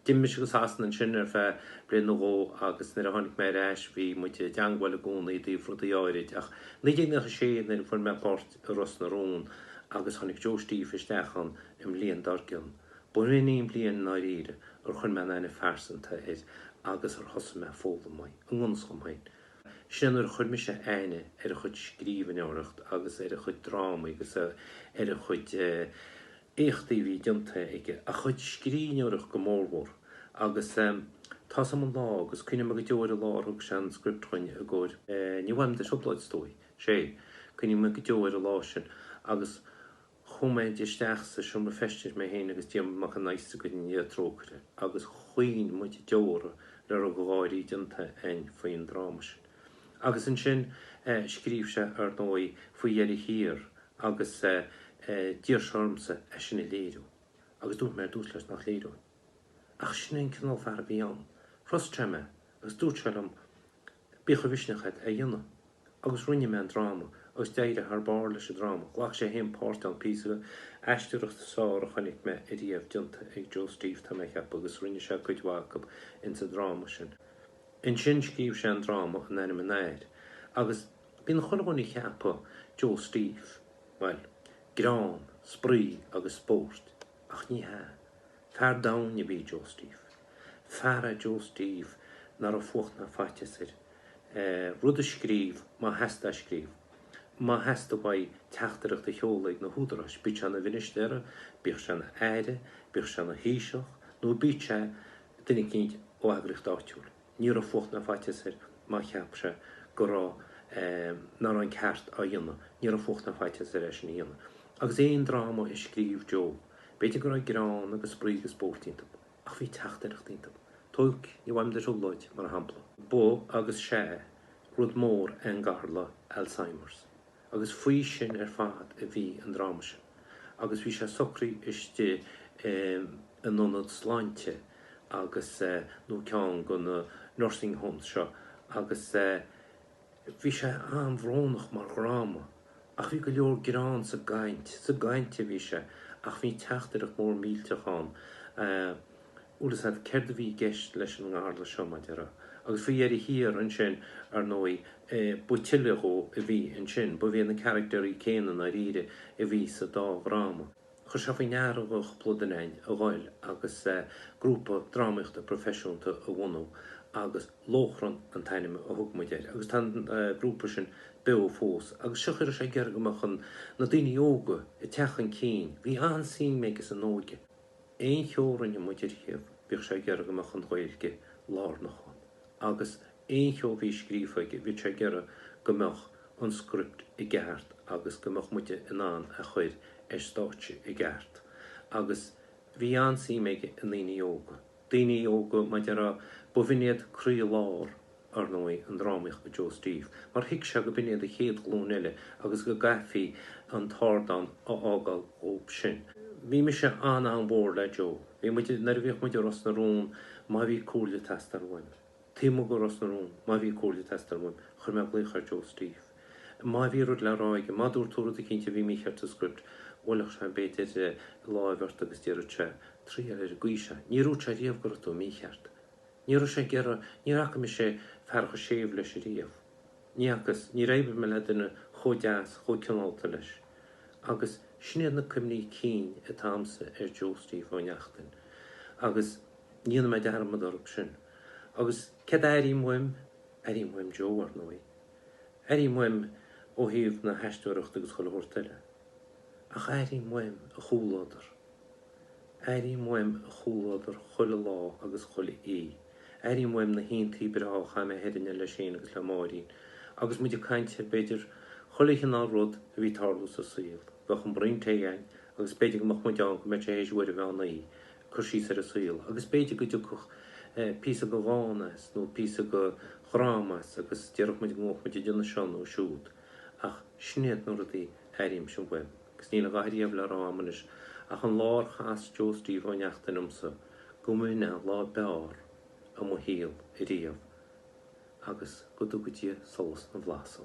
D'imigh mise go Sasana ansin ar feadh bliain nó dhó agus nuair a tháinig mé ar ais bhí muid i dteangmháil i gcónaí i dtaobh rudaí áirid ach 1996 nuair a fuair mé páirt i Ros na Rún agus tháinig Joe Steve isteach ann an bhliain dár gcionn B'shin í an bhliain i ndáiríre ar chuir mé an aithne phearsanta air agus ar thosaigh mé ag foghlaim uaidh, i ngan fhios dhom féin. Sin nuair a chuir mise aithne ar a chuid scríbhneoireachta agus ar a chuid drámaí agus ar a chuid éachtaí a bhí déanta aige, a chuid scríbhneoireachta go mórmhór. Agus tá a fhios agam an lá agus cuimhneoidh mé go deo ar an lá ar thug sé an script chugainn i gcomhair Níor Mhaith Liom do Thrioblóid, is dóigh, is ea, cuimhneoidh mé go deo ar an lá sin agus Chuaigh muid isteach sa seomra feistis mé féin agus Diarmaid Mac an Adhastair go ndéana Dia trócaire air, agus chaoin muid deora lena raibh de gháirí déanta againn faoin dráma sin. Agus ansin scríobh sé, ar ndóigh, Faoi Dheireadh Thiar agus d'iarr sé ormsa é sin a léiriú. Agus dúirt mé ar dtús leis nach léireoinn. Ach sin é an cineál fear a bhí ann. Thrust sé mé agus dúirt sé liom, Bíodh de mhisneach agat é a dhéanamh. Agus rinne mé an dráma, agus d'éirigh thar barr leis an dráma. Ghlac sé féin páirt ann, píosa den aisteoireacht is fearr a chonaic mé ariamh déanta ag Joe Steve, tá mé a cheapadh, agus rinne sé cuid mhaith acu ins an dráma sin. Ansin scríobh sé an dráma In Ainm an Athar. Agus bíonn chuile dhuine a cheapadh, Joe Steve, bhuel, greann, spraoi agus spórt, ach ní hea. Fear domhain ab é Joe Steve. Fear é Joe Steve nach raibh fuacht ná faitíos air rud a scríobh má theastaigh a scríobh. Má theastaigh uaidh teachtaireacht a sheoladh ag na húdaráis, bíodh sé ina mhinistéir, bíodh sé ina aire, bíodh sé ina thaoiseach nó bíodh sé duine eicínt ó eagraíocht áitiúil, Ní raibh fuacht ná faitíos air má cheap sé go raibh nach raibh an ceart á dhéanamh, ní raibh fuacht ná faitíos air é sin a dhéanamh. Agus aon dráma a scríobh Joe, b'fhéidir go raibh greann agus spraoi agus spórt iontu, ach bhí teachtaireacht iontu. Tóg Níor Mhaith Liom do Thrioblóid mar shampla. Ba, agus sea, rud mór é an galra Alzheimers. agus faoi sin ar fad a bhí an dráma sin, agus bhí sé socraithe istigh in ionad sláinte agus, nó ceann de na nursing homes seo, agus bhí sé an-bhrónach mar dhráma, ach bhí go leor greann sa gcaint, sa gcaint a bhí sé, ach bhí teachtaireacht mhór millteach ann. Bhfuil a fhios agat céard a bhí i gceist leis an ngalra seo, mar a déarfá, agus Faoi Dheireadh Thiar ansin, ar ndóigh, ba tuilleadh dhó a bhí ansin, ba iad na caraictéirí céanna, i ndáiríre, a bhí sa dá dhráma. Chuir sé faoi ndeara dho chúpla duine againn a ghoil agus grúpa drámaíochta proifisiúnta a bhunú, agus Lóchrann an t-ainm a thug muid air, agus tá an grúpa sin beo fós, agus seo, chuireadh sé ag iarraidh go mbeadh an, na daoine óga, ag teacht chun cinn, bhí an-suim aige san óige. aon cheo a rinne muid ariamh, bhíodh sé ag iarraidh go mbeadh an Ghaeilge lárnach ann, agus aon cheo a bhí scríofa aige, bhíodh sé ag iarraidh go mbeadh an script i gceart agus go mbeadh muide in ann a chuir ar stáitse i gceart. Agus bhí an-suim aige i ndaoine óga. Daoine óga, mar a déarfá, ba bh'in iad croílár ar ndóigh, an drámaíocht do Joe Steve, mar thuig sé go b'in iad an chéad ghlúin eile agus go gcaithfí an t-ardán a fhágáil dhó sin. Bhí mise an-, an-mhór le Joe. Bhí muid, nuair a bhíodh muid i Ros na Rún, má bhí comhairle ag teastáil uaim, taobh amuigh de Ros na Rún, má bhí comhairle ag teastáil uaim, chuir mé glaoch ar Joe Steve. Má bhí rud le rá aige, má dúirt tú rud eicínt a bhí mícheart sa script, bhuailfeadh sé, b'fhéidir, láimh ort agus déarfadh sé, triail ar an gcaoi seo é, ní dúirt sé riamh go raibh tú mícheart. Ní raibh sé ag iarraidh, ní fhaca mise fear chomh séimh leis ariamh. Ní fhacas, níor oibrigh mé le duine chomh deas, chomh cineálta leis. Agus sin iad na cuimhní cinn atá agamsa ar Joe Steve Ó Neachtain. Agus ní dhéanfaidh mé dearmad orthu sin. Agus céard a airím uaim? Airím uaim Joe, ar ndóigh. Airím uaim ó thaobh na haisteoireachta agus chuile shórt eile. Ach airím uaim a chomhluadar. Airím uaim a chomhluadar chuile lá agus chuile oíche. Airím uaim na hoícheantaí breátha a chaith mé thoir in éindí leis fhéin agus le Máirín, agus muid ag caint ar, b'fhéidir, chuile chineál rud a bhí ag tarlú sa saol. Bheadh an braon tae againn, agus b'fhéidir go mbeadh muid ann go mbeadh sé théis uair an mheán oíche, ag cur síos ar an saol, agus b'fhéidir go dtiocfadh píosa de dhán as, nó píosa de dhráma as, agus déarfadh muid go mbeadh muid ag déanamh seo nó siúd. Ach sin iad na rudaí a airímse uaim. agus níl a dhath riamh le rá agam anois ach an lá ar chas Joe Steve Ó Neachtain liomsa, go mb'in é an lá ab fhearr i mo shaol riamh agus go dtuga Dia solas na bhflaitheas dó.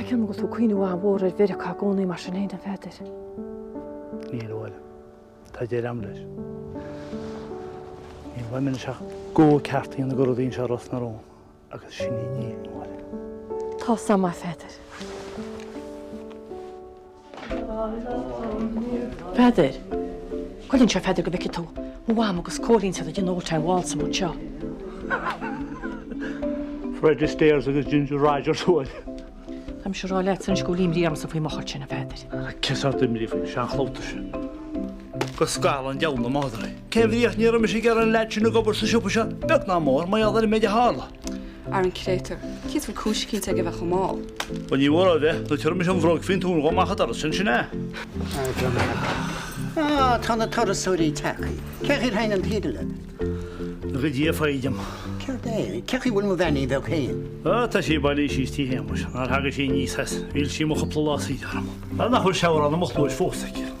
Feicim go bhfuil tú ag cuimhneamh an-mhór ar Mheiriceá i gcónaí mar sin fhéin, a Pheadair? Níl, a Mháire. Tá deireadh agam leis. Níl bhfuil mé seach gó ceart íon na gorodín se Ros na Rún agus sin í ní, a Mháire. Tá a fhios agam, a Pheadair. Peadar, Cuireann seo a Pheadair go bhfeice tú mo mham agus Cóilín, tá siad ag an Old Time Waltz amuigh anseo. Fred Astaire agus Ginger Rogers uaidh. Tá mise ag rá leatsa anois go bhfuil imní ormsa faoin mbuachaill sin, a Pheadair. Cén sórt imní faoin seanchóta sin? Go scáileán deamhan na mádra. Cén bhrí ach ní raibh mise ag iarraidh an leaid sin ag obair sa siopa seo? Beag ná mór, mar gheall ar an méid a tharla. an créatúr. Cítear dom cúis eicínt aige bheith chomh mall. Ba ní mhór é a bheith le tuairim leis an bhróig faoin tóin dhá mbeadh a dturas sin sin ea? Á, tá na turasóirí ag teacht. Cé chuir féin an t-éadan linn? Go dtí a feidhm. Céard é? Cé chaoi bhfuil mo bheainín bheag féin? Á, tá sí bailithe síos tí Shéamuis. Nár dtagadh sí aníos as. Níl sí ach cúpla lá suite orm. Á, nach bhfuil seabhrán na mbocht uirthi fós aici?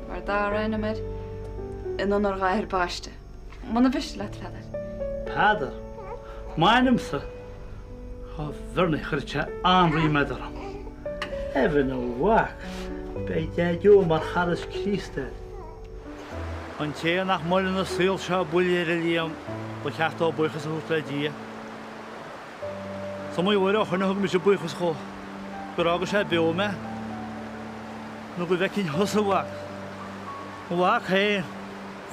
Mar dara hainm air, in onóir dhá athair baiste. Muna mhiste leat, Pheadar. Peadar, M'ainmse dhá bheireann a chuirfidh sé an-ríméad orm. Evan Ó Mhac, Beidh Deaideo mar chara is Críost air. An té nach maireann an saol seo buille air, a Liam, ba cheart dó buíochas a thabhairt le Dia. Is iomaí uair ó shin a thug mise buíochas dhó gur fhága sé beo mé nó go bhfeicfinn thusa, a mhac. Mo mhac féin,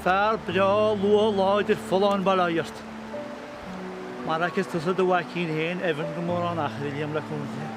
fear breá, luath, láidir, folláin, bail ó Dhia ort. Mar a fheicfeas tusa do mhaicín féin, Evan, gan mórán achair, a Liam, le cúnamh.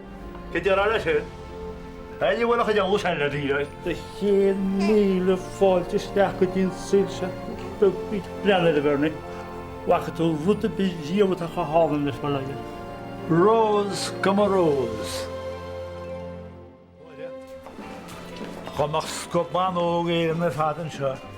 Cé deará leis é? Éirí amhail a chuid eolais eile a dhíreoidh. do chéad míle fáilte isteach go dtí an saol seo a stór. Breathnaigh air, a Bhernie. Bhfaca tú rud ar bith riamh atá chomh hálainn leis mo rós. Comh-mba rós. Chomh maith scoth ban óg Éireann ar fad anseo.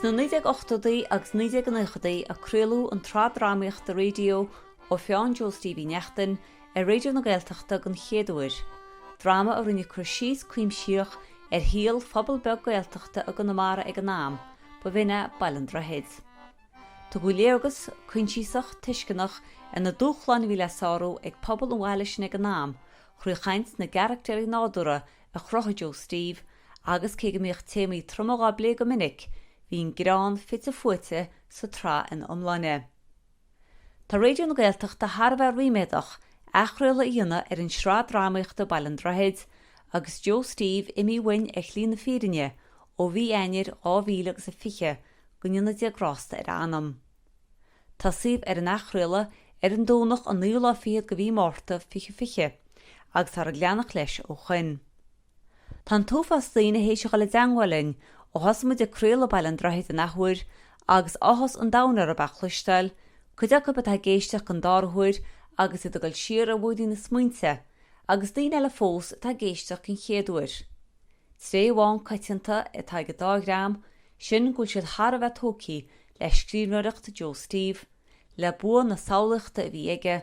Sna 1980idí agus 1990idí a craoladh an tsraith drámaíochta raidió ó pheann Joe Steve Uí Neachtain ar Raidió na Gaeltachta den chéad uair, dráma a rinne cur síos cuimsitheach ar shaol phobal beag Gaeltachta i gConamara ag an am, b'in é Baile an Droichid. Tugadh léargas coinsiasach, tuisceanach ar na dúshláin a bhí le sárú ag pobal an bhaile sin ag an am, thrí chaint na gcarachtair nádúrtha a chruthaigh Joe Steve agus cé go mbíodh téamaí troma dhá bplé go minic, bhí an greann fite fuaite sa tsraith ina iomláine. Tá Raidio na Gaeltachta thar a bheith ríméadach athchraoladh a dhéanamh ar an sraith dramaíochta Baile an Droichid agus Joe Steve imithe uainn ar shlí na fírinne ó mhí Eanáir 2020, Go ndéana Dia grásta ar a anam. Tosaíodh ar an athchraoladh ar an Domhnach an naoú lá fichead de mhí Márta fiche fiche agus táthar ag leanacht leis ó shoin. Tá an t-uafás daoine théis a dhul i dteangmháil linn ó thosaigh muid ag craoladh Baile an Droichid an athuair agus áthas an domhain orthu é a chloisteáil, cuid acu atá ag éisteacht den dara uair agus iad ag dul siar bóithrín na smaointe, agus daoine eile fós atá ag éisteacht den chéad uair. Tréith amháin coitianta atá ag an dá dhream sin go bhfuil siad thar a bheith tógtha le scríbhneoireacht Joe Steve, le bua na samhlaíochta a bhí aige,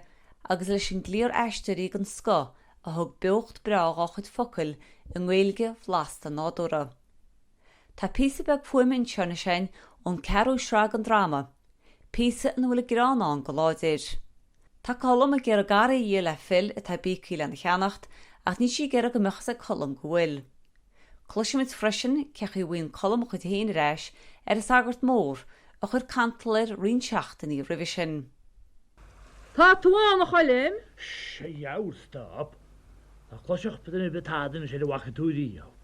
agus leis an gcliar aisteoirí den scoth a thug beocht breá dhá chuid focal i nGaeilge bhlasta nádúrtha. Tá píosa beag fuaime anseo anois ann ón gceathrú sraith den dráma, píosa ina bhfuil an greann ann go láidir. Tá Colm ag iarraidh garraí a dhíol le Phil atá bíogtha lena cheannacht, ach níl sí ag iarraidh go mbeadh a fhios ag Colm go bhfuil. Cloisimid freisin cé chaoi a bhfaigheann Colm a chuid féin ar ais ar an sagart mór a chuir cantal air roinnt seachtainí roimhe sin. Tá tú ann, a Choilm! Sea. Ara stop, ná cloiseadh duine ar bith tada anois ar a bhfaca tú riamh.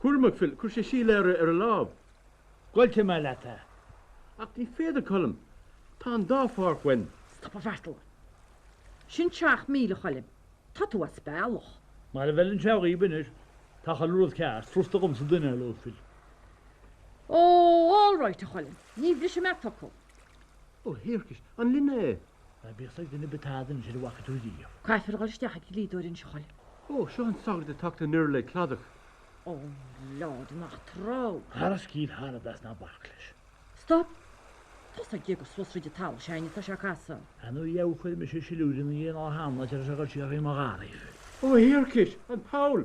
Cuir amach, Phil, cuir sé síl ar a lámh. Scoiltfidh mé leat é. Ach ní féidir Colm. Tá an dá pháirc uainn. Stop a Phartaláin. Sin seacht míle, a Choilm. Tá tú as bealach. Mar a bheir an seabhac dhíob anois, tá chuile rud ceart. Trust agamsa duine eile ó Phil. Ó, all right, a Choilm. Ní bhrisfidh mé d'fhocal. Ó, a thiarcais, an linne é? Ná bíodh a fhios ag duine ar bith tada anois ar a bhfaca tú riamh. Caithfear a dhul isteach ag dlíodóir anseo, a Choilm. Ó, seo an sagart ag teacht anoir le cladach. Ó, Lord, nach trua! Ara scaoil tharat é is ná bac leis. Stop! Tá sé ag iarraidh a dhul suas thríd an talamh, sea, anois tá sé ag casadh. Ar ndóigh, a chuir mise slurry ina dhiaidh ná hamlachd ar an sagart siar faoi mo gharraí. Ó, a thiarcais! An poll!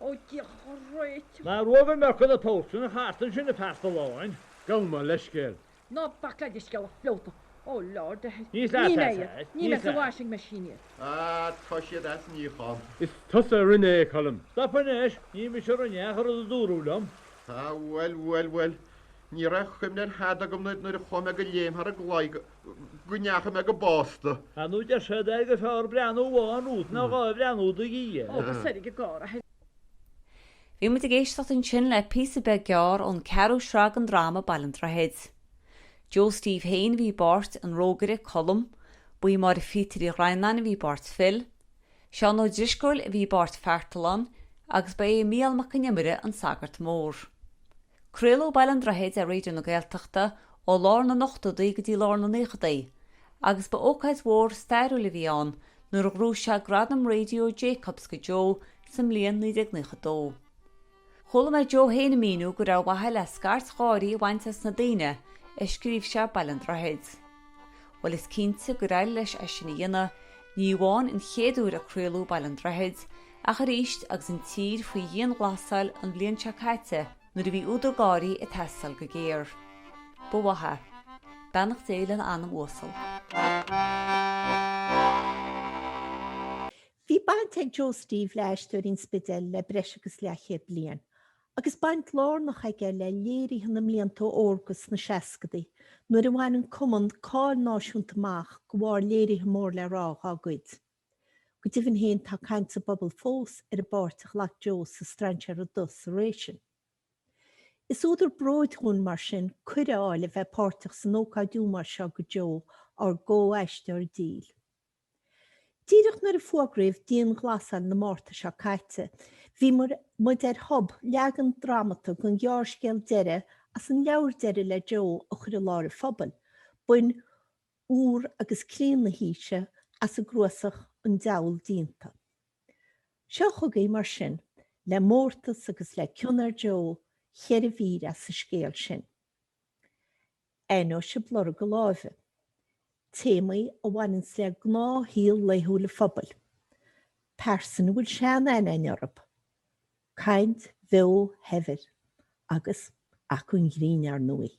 ó d'fhéadfadh a réiteach. Ná ruaig an mioc ina pouch ina chartlann sin, a Phartaláin. Gabh mo leithscéal. Ná bac le leithscéal, a phleota. Ó, Lord, a Hector. Níl mé ag iarraidh. Nífidh mé sa washing machine iad. Ah, tá siad as níochán. Is tusa a rinne é, Colm. Stop anois. Ní mise a rinne é, ach an rud a dúradh liom. Ah, bhuel, bhuel, bhuel. Ní raibh cuimhne ar thada agam nuair a chuaigh mé de léim thar an gclaí go. go ndeachaigh mé go básta. Ar ndóigh deir siad, a Athair, gur fearr breathnú amháin romhat ná dhá bhreathnú i do dhiaidh. Ó, ba seirge geárr a thuille. Bhí muid ag éisteacht ansin le píosa beag gearr ón ceathrú sraith den dráma Baile an Droichid. Joe Steve féin a bhí i bpáirt an rógaire, Colm, ba í Máire Phíotair Uí Dhroighneáin a bhí i bpáirt Phil, Seán Ó Drisceoil a bhí i bpáirt Phartalán agus ba é Mícheál Mac Con Iomaire an sagart mór. Craoladh Baile an Droichid ar Raidió na Gaeltachta ó lár na n-ochtódaí go dtí lár na naochadaí agus ba ócáid mhór stairiúil a bhí ann nuair a ghnóthaigh sé gradam raidió Jacobs do Joe sa mbliain 1992. Chuala mé Joe féin ag míniú gur ar mhaithe le scairt gháirí a bhaint as na daoine a scríobh sé Baile an Droichid. Bhuel is cinnte gur éirigh leis é sin a dhéanamh, ní amháin an chéad uair a craoladh Baile an Droichid Ach arís, agus an tír faoi dhianghlasáil an bhliain seo caite, nuair a bhí údar gáirí ag teastáil go géar. Ba mhaith é. Beannacht Dé lena anam uasal. Bhí baint ag Joe Steve le Aisteoirí an Spidéil le breis agus leathchéad bliain, agus baint lárnach aige le léirithe na mblianta órga sna seascadaí, nuair a bhain an Cumann cáil náisiúnta amach de bharr léirithe mór le rá dhá gcuid. Go deimhin féin, tá caint sa bpobal fós ar an bpáirt a ghlac Joe sa Strainséara i dtús an ré sin. Is údar bróid dhúinn, mar sin, cuireadh a fháil a bheith páirteach san ócáid ómóis seo do Joe, ár gcomhaisteoir dil. Díreach nuair a fuagraíodh dianghlasáil na Márta seo caite, bhí muid ar thob leagan drámata den ghearrscéal deiridh as an leabhar deiridh le Joe a chur i lár an phobail, Boinn úr agus críon na haoise as an gcnuasach An Diabhal Déanta. Seo chugaibh, mar sin, le mórtas agus le cion ar Joe, cheithre mhír as an scéal sin. Aithneoidh sibh lorg a láimhe. Téamaí a bhaineanns le gnáthshaol laethúil an phobail. Pearsain a bhfuil sean-aithne againn orthu. Caint bheo shaibhir. Agus, acmhainn grinn, ar ndóigh.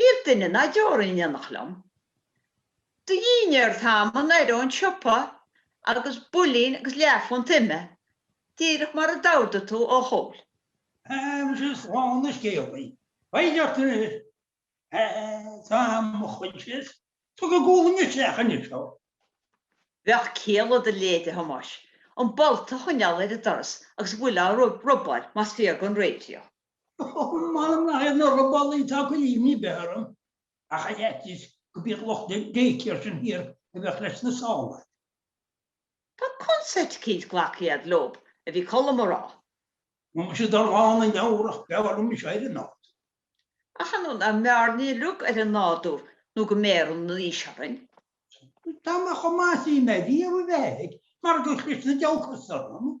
Níl duine ná deoraí in éineacht liom. Do dhinnéar. Tá mé anoir ón tsiopa agus builín agus leathphunt ime, díreach mar a d'ordaigh tú, a Chóil. A muise slán an scéalaí. Beidh ort é. Tá mo chuidse is tu go Gúlainn isteach anois ó. Bheadh ciall ag do leithéid, a Thomáis, an bolta a choinneáil ar an doras agus a bhfuil á robáil, más fíor don raidió. M'anam nach iad na robálaí atá ag cur imní ar bith orm, ach ar fhaitíos gurb iad lucht an daycare sin thiar a bheadh leis na sála. Tá consaeit eicínt glactha a'd leob, a bhí Colm a rá. Á muise dornán i ndeabhar, ach b'fhearr liom mise ar an ord. Ach an ionadh an mb'fhearr ní lug ar an nádúr nó go mbéarann an aois orainn? Tá mé chomh maith is a bhí mé riamh a bheith ag margadh leis na deocharsa, an ionadh?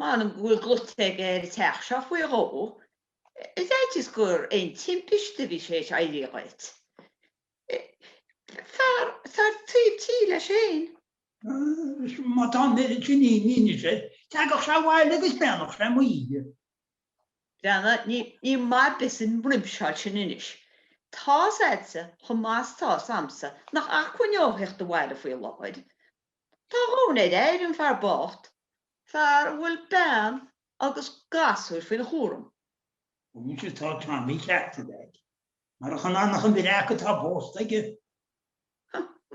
M'anam go bhfuil glaoite aige ar an teach seo faoi dhó. Ar fhaitíos gur aon timpiste a bhí théis éirí dhuit. Fear atá ar thaobh tí leis fhéin. Anois má tá an oiread sin imní anois air, teagadh sé abhaile agus déanadh sé mo dhícheall. Déana, níl maith ar bith sa bhruimseáil sin anois. Tá's a'dsa chomh maith 's tá's a'msa nach acmhainn dó a theacht abhaile faoi láthair. Tá a dhóthain ar a aire ag an bhfear bocht, fear a bhfuil bean agus gasúir faoina chúram. Bíonn siad atá ag teannadh an chearta beag, murach an anachain bhreac atá pósta aige.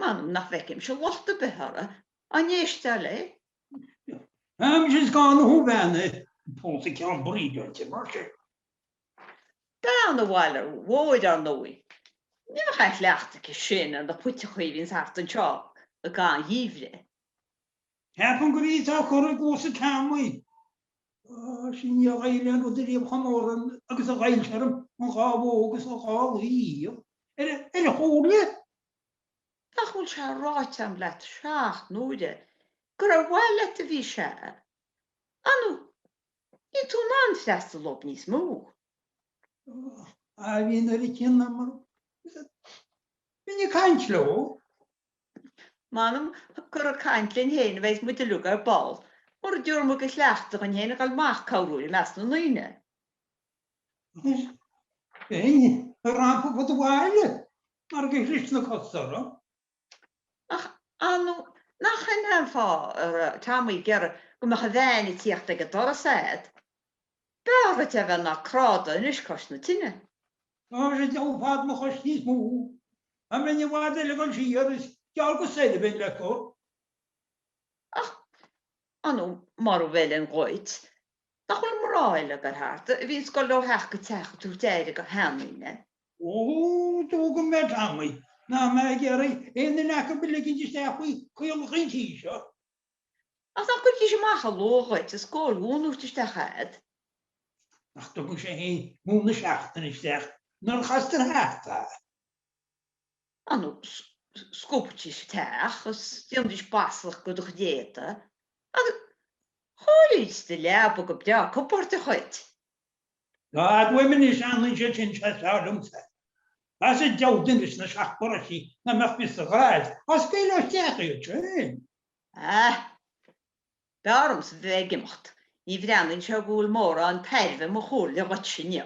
M'anam nach bhfeicimse locht ar bith uirthi dá n-éistfeá léi. Táimse is gá na húmhánna, pósadh ceann brí dúirt sé, mar sin. Bean an bhaile mhóir, ar ndóigh, ní bheadh aon chleachtadh aici sin ar na puiteachaí a bhíonn thart an teach i gcaitheamh an gheimhridh. Ceapaim go bhféadfadh sé a chur i gcluasa Tomaí. Sin í a dheineadh an rud a ríomh chun orainn agus a dheilt ar an ngá mhó agus an ghá laoich ar a shúile. Nach bhfuil sé ráite agam leat seacht n-uaire gur ar mhaithe leat a bhí sé? An Níl tú in ann freastal orthu níos mó. Ar bhí nuair a chinneamar. Bhí ag caint leo. M'anam gur ag caint linn féin a bheas muid uilig ar ball. Mura dtiúrfaidh muid de chleachtadh dhúinn féin a dhul amach corruair i measc na ndaoine. Bheinn ag rampúch ar fud an bhaile marach gur chlis na cosa orm. Ach ar ndóigh nach in é an fáth a bhfuil Tomaí ag iarraidh go mbeadh a bhean ag tíocht ag an doras a'd b'fhearr dhuit a bheith ná cráda anois cois na tine. Mar sin gheofá na cois níos mó. Dá mbeinn i bhfad eile ag dul siar, is gearr go soir a bheinn le cur. Ach ar ndóigh mara bhfeileann dhuit Nach bhfuil mná eile ag gabhail thart a bhíonns ag gabhail ó theach go teach ag tabhairt aire do sheandaoine? Ó, d'fhógair mé ar Tomaí nach raibh mé ag iarraidh aon duine acu a ligint isteach faoi chaolacha an tí seo. Ach nach gcuirfidís amach an luaith dhuit is gabháil mhóna a thabhairt isteach a'd. Nach dtugann sé fhéin móin na seachtaine isteach nuair a chastar thart a. Á, scuabfaidís an teach is dhéanfaidís baslach de do chuid éadaí agus chóireoidís do leaba go breá compordach dhuit. Dá admhaim anois anlann siad sin is fearr liomsa as a dtiocfadh duine sna seacht bparóistí nach mbeadh fios a ghraithe dhá scaoilfeá isteach iad sin. Ah! b'fhearr dhomsa bheith ag imeacht. Ní bhreathnaíonn sé go bhfuil mórán tairbhe i mo chomhairle dhuitse inniu.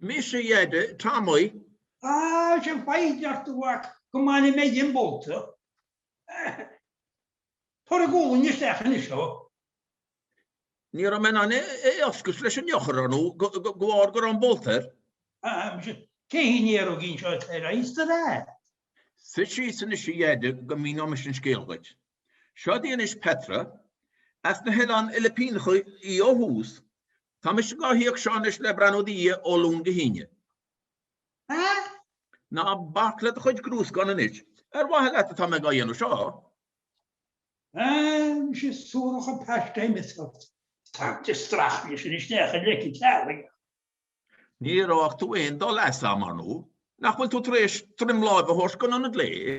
Mise, a Dheaide, Tomaí. Á, sin foighid ort, a mhac, go mbainfidh mé dhe an bolta. Tabhair an ghualainn isteach anois dhó. Ní raibh mé in ann é a oscailt leis an eochair, ar ndóigh, de bharr go raibh an bolta air. Á, muise, cé hí an éaragaín seo atá ar aosta, a bhean? Suigh síos anois, a Dheaide, go míneoidh mise an scéal dhuit. Seo di anois Petra, as na hOileáin Fhilipíneacha í ó thús, tá mise dhá híoc, seo anois le breathnú i do dhiaidh ó Luan go hAoine. Ná bac le do chuid grúscán anois, ar mhaithe leat atá mé dhá dhéanamh seo. Táim sé suarach an paiste é, ms. Hutt. Táim de strach leis an isteach ar leic an teallaigh. Níor fhág tú aon dul as agam, ar ndóigh. Nach bhfuil tú tar éis droim láimhe a thabhairt gon ionad lae?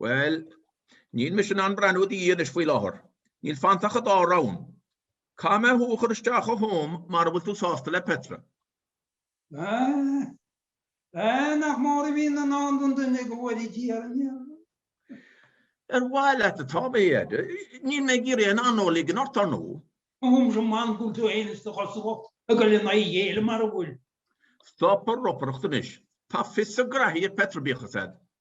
Bhuel, níl mise in ann breathnú i do dhiaidh anois faoi láthair. Níl fanta ach an dá rogha. Caithfidh mé thú a chur isteach i home mara bhfuil tú sásta le Petra. Aah. Aah, nach mór a bhíonn i ndán don duine, go bhfóire Dia orainn. Ar mhaithe leat atá mé air? Níl mé ag iarraidh aon anó a ligean ort, ar ndóigh. Ó, thum sin m'anam go bhfuil tú féin is do chosúlacht ag dul in aghaidh a chéile mara bhfuil. Stop an ropaireacht anois. Tá fios a gnaithe ag Petra bíodh a fhios agat.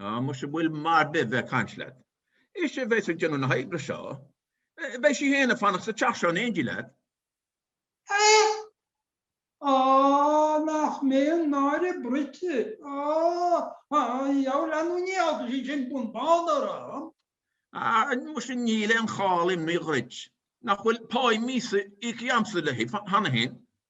Á, muise, an bhfuil maith ar bith a bheith ag caint leat? Ise a bheas ag déanamh na hoibre seo. Beidh sí fhéin ag fanacht sa teach seo in éindí leat. Ach, á, nach mé an náire bruite! Á, á, dheabhail anúiní agus í sin bun barr orm! Á, muise, níl aon chall imní dhuit. Nach bhfuil páí míosa íoctha agamsa léi cheana fhéin?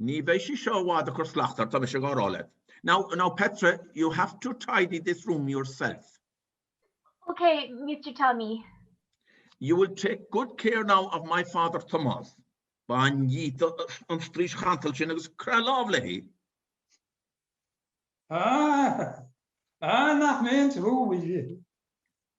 Ní bheidh sí seo i bhfad ag cur slacht ort, tá mise ag rá leat. Now, now Petra, you have to tidy this room yourself. Ok, Mister Tommy. You will take good care now of my father Tomás. Bain díot an straois chantail sin agus craith lámh léi. Ah! Ah, nach mbeinn tú, Willie.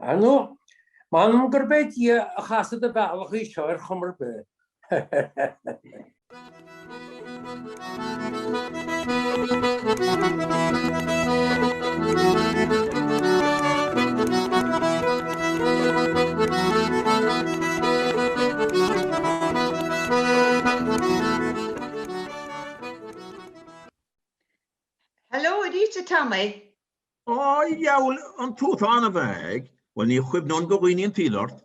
Ar ndóigh, m'anam gurb é Dia a chas i do bhealach í seo ar chuma ar bith. A dheabhail, an tú atá ann, a Mheaig? Bhuel, ní chuimhneoinn go dhaoine an tsaoil ort.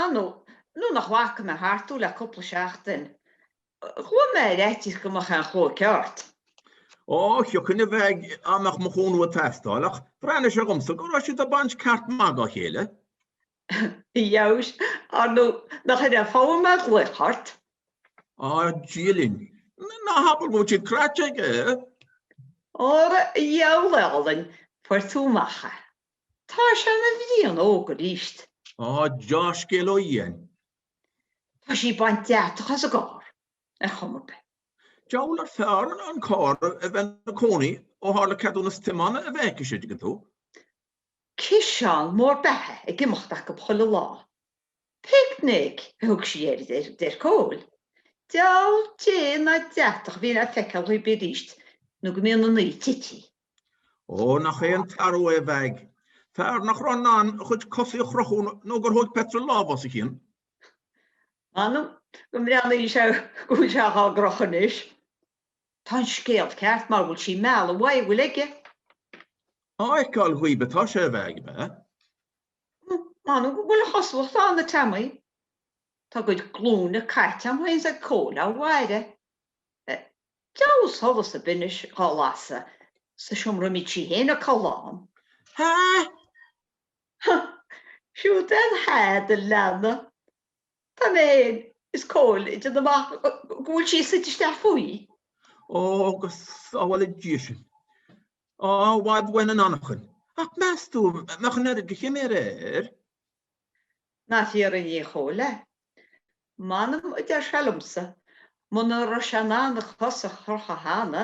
Ar ndóigh, nuair nach bhfaca mé thart thú le cúpla seachtain. Ghlaoigh mé ar fhaitíos go mbeadh aon chlóic ort. Ó, thiocfainn, a Mheaig, dá mbeadh mo chúnamh ag teastáil, ach bhreathnaigh sé dhomsa go raibh siad ag baint ceart maith dá chéile. Bíodh ar ndóigh nach raibh fonn orm glaoch ort. Á, Dia linn, ná habair go bhfuil siad cráite aige é! Óra, a Dhia álainn, fuair tú amach é. Tá sé ina Bhrian óg aríst. Á, dea-scéal ó Dhia againn! Tá sí ag baint deatach as an gcarr ar chuma ar bith. Diabhal ar fearr an carr a bheith ina chónaí ó tharla ceadúnas tiomána a bheith aici sin, an dtuigeann tú. ciseán mór beatha ag imeacht acu chuile lá, picnic a thug sí air, a deir Cóil. Deabhal dé ná deatach a bhíonn le feiceáil riamh aríst nó go mbíonn an oíche tite. Ó, nach é an t-athrú é a bheith ag fear nach raibh in ann a chuid cosaí a chrochadh nó gur thóig Petra lámh as a chionn. M'anam go mbreathnaíonn sé go bhfuil sé á gcrochadh anois. Tá an scéal ceart mara bhfuil sí mall i bhfeidh a bhfuil aige. Á fheiceáil dhaoib atá sé a bheith ag mbeith. M'anam go bhfuil a chosúlacht ann a Tommy. Tá a gcuid glúine caite a'm féin is ag Cóil á bhfaire. Deabhal solas a bíonns dhá lasadh sa seomra a mbíodh sí féin a' codladh ann. Há! Há! Siúd é an há do leanna. Tá mé féin is Cóil ag déanamh amach go bhfuil sí suite isteach faoi. Ó, go sábhála Dia sinn. I bhfad uainn an anachain. Ach meas tú an mbeadh an oiread de chiméara air? Na fírinní chomh le. M'anam, a deir sé liomsa, muna raibh sé in ann a chos a chrochadh cheana,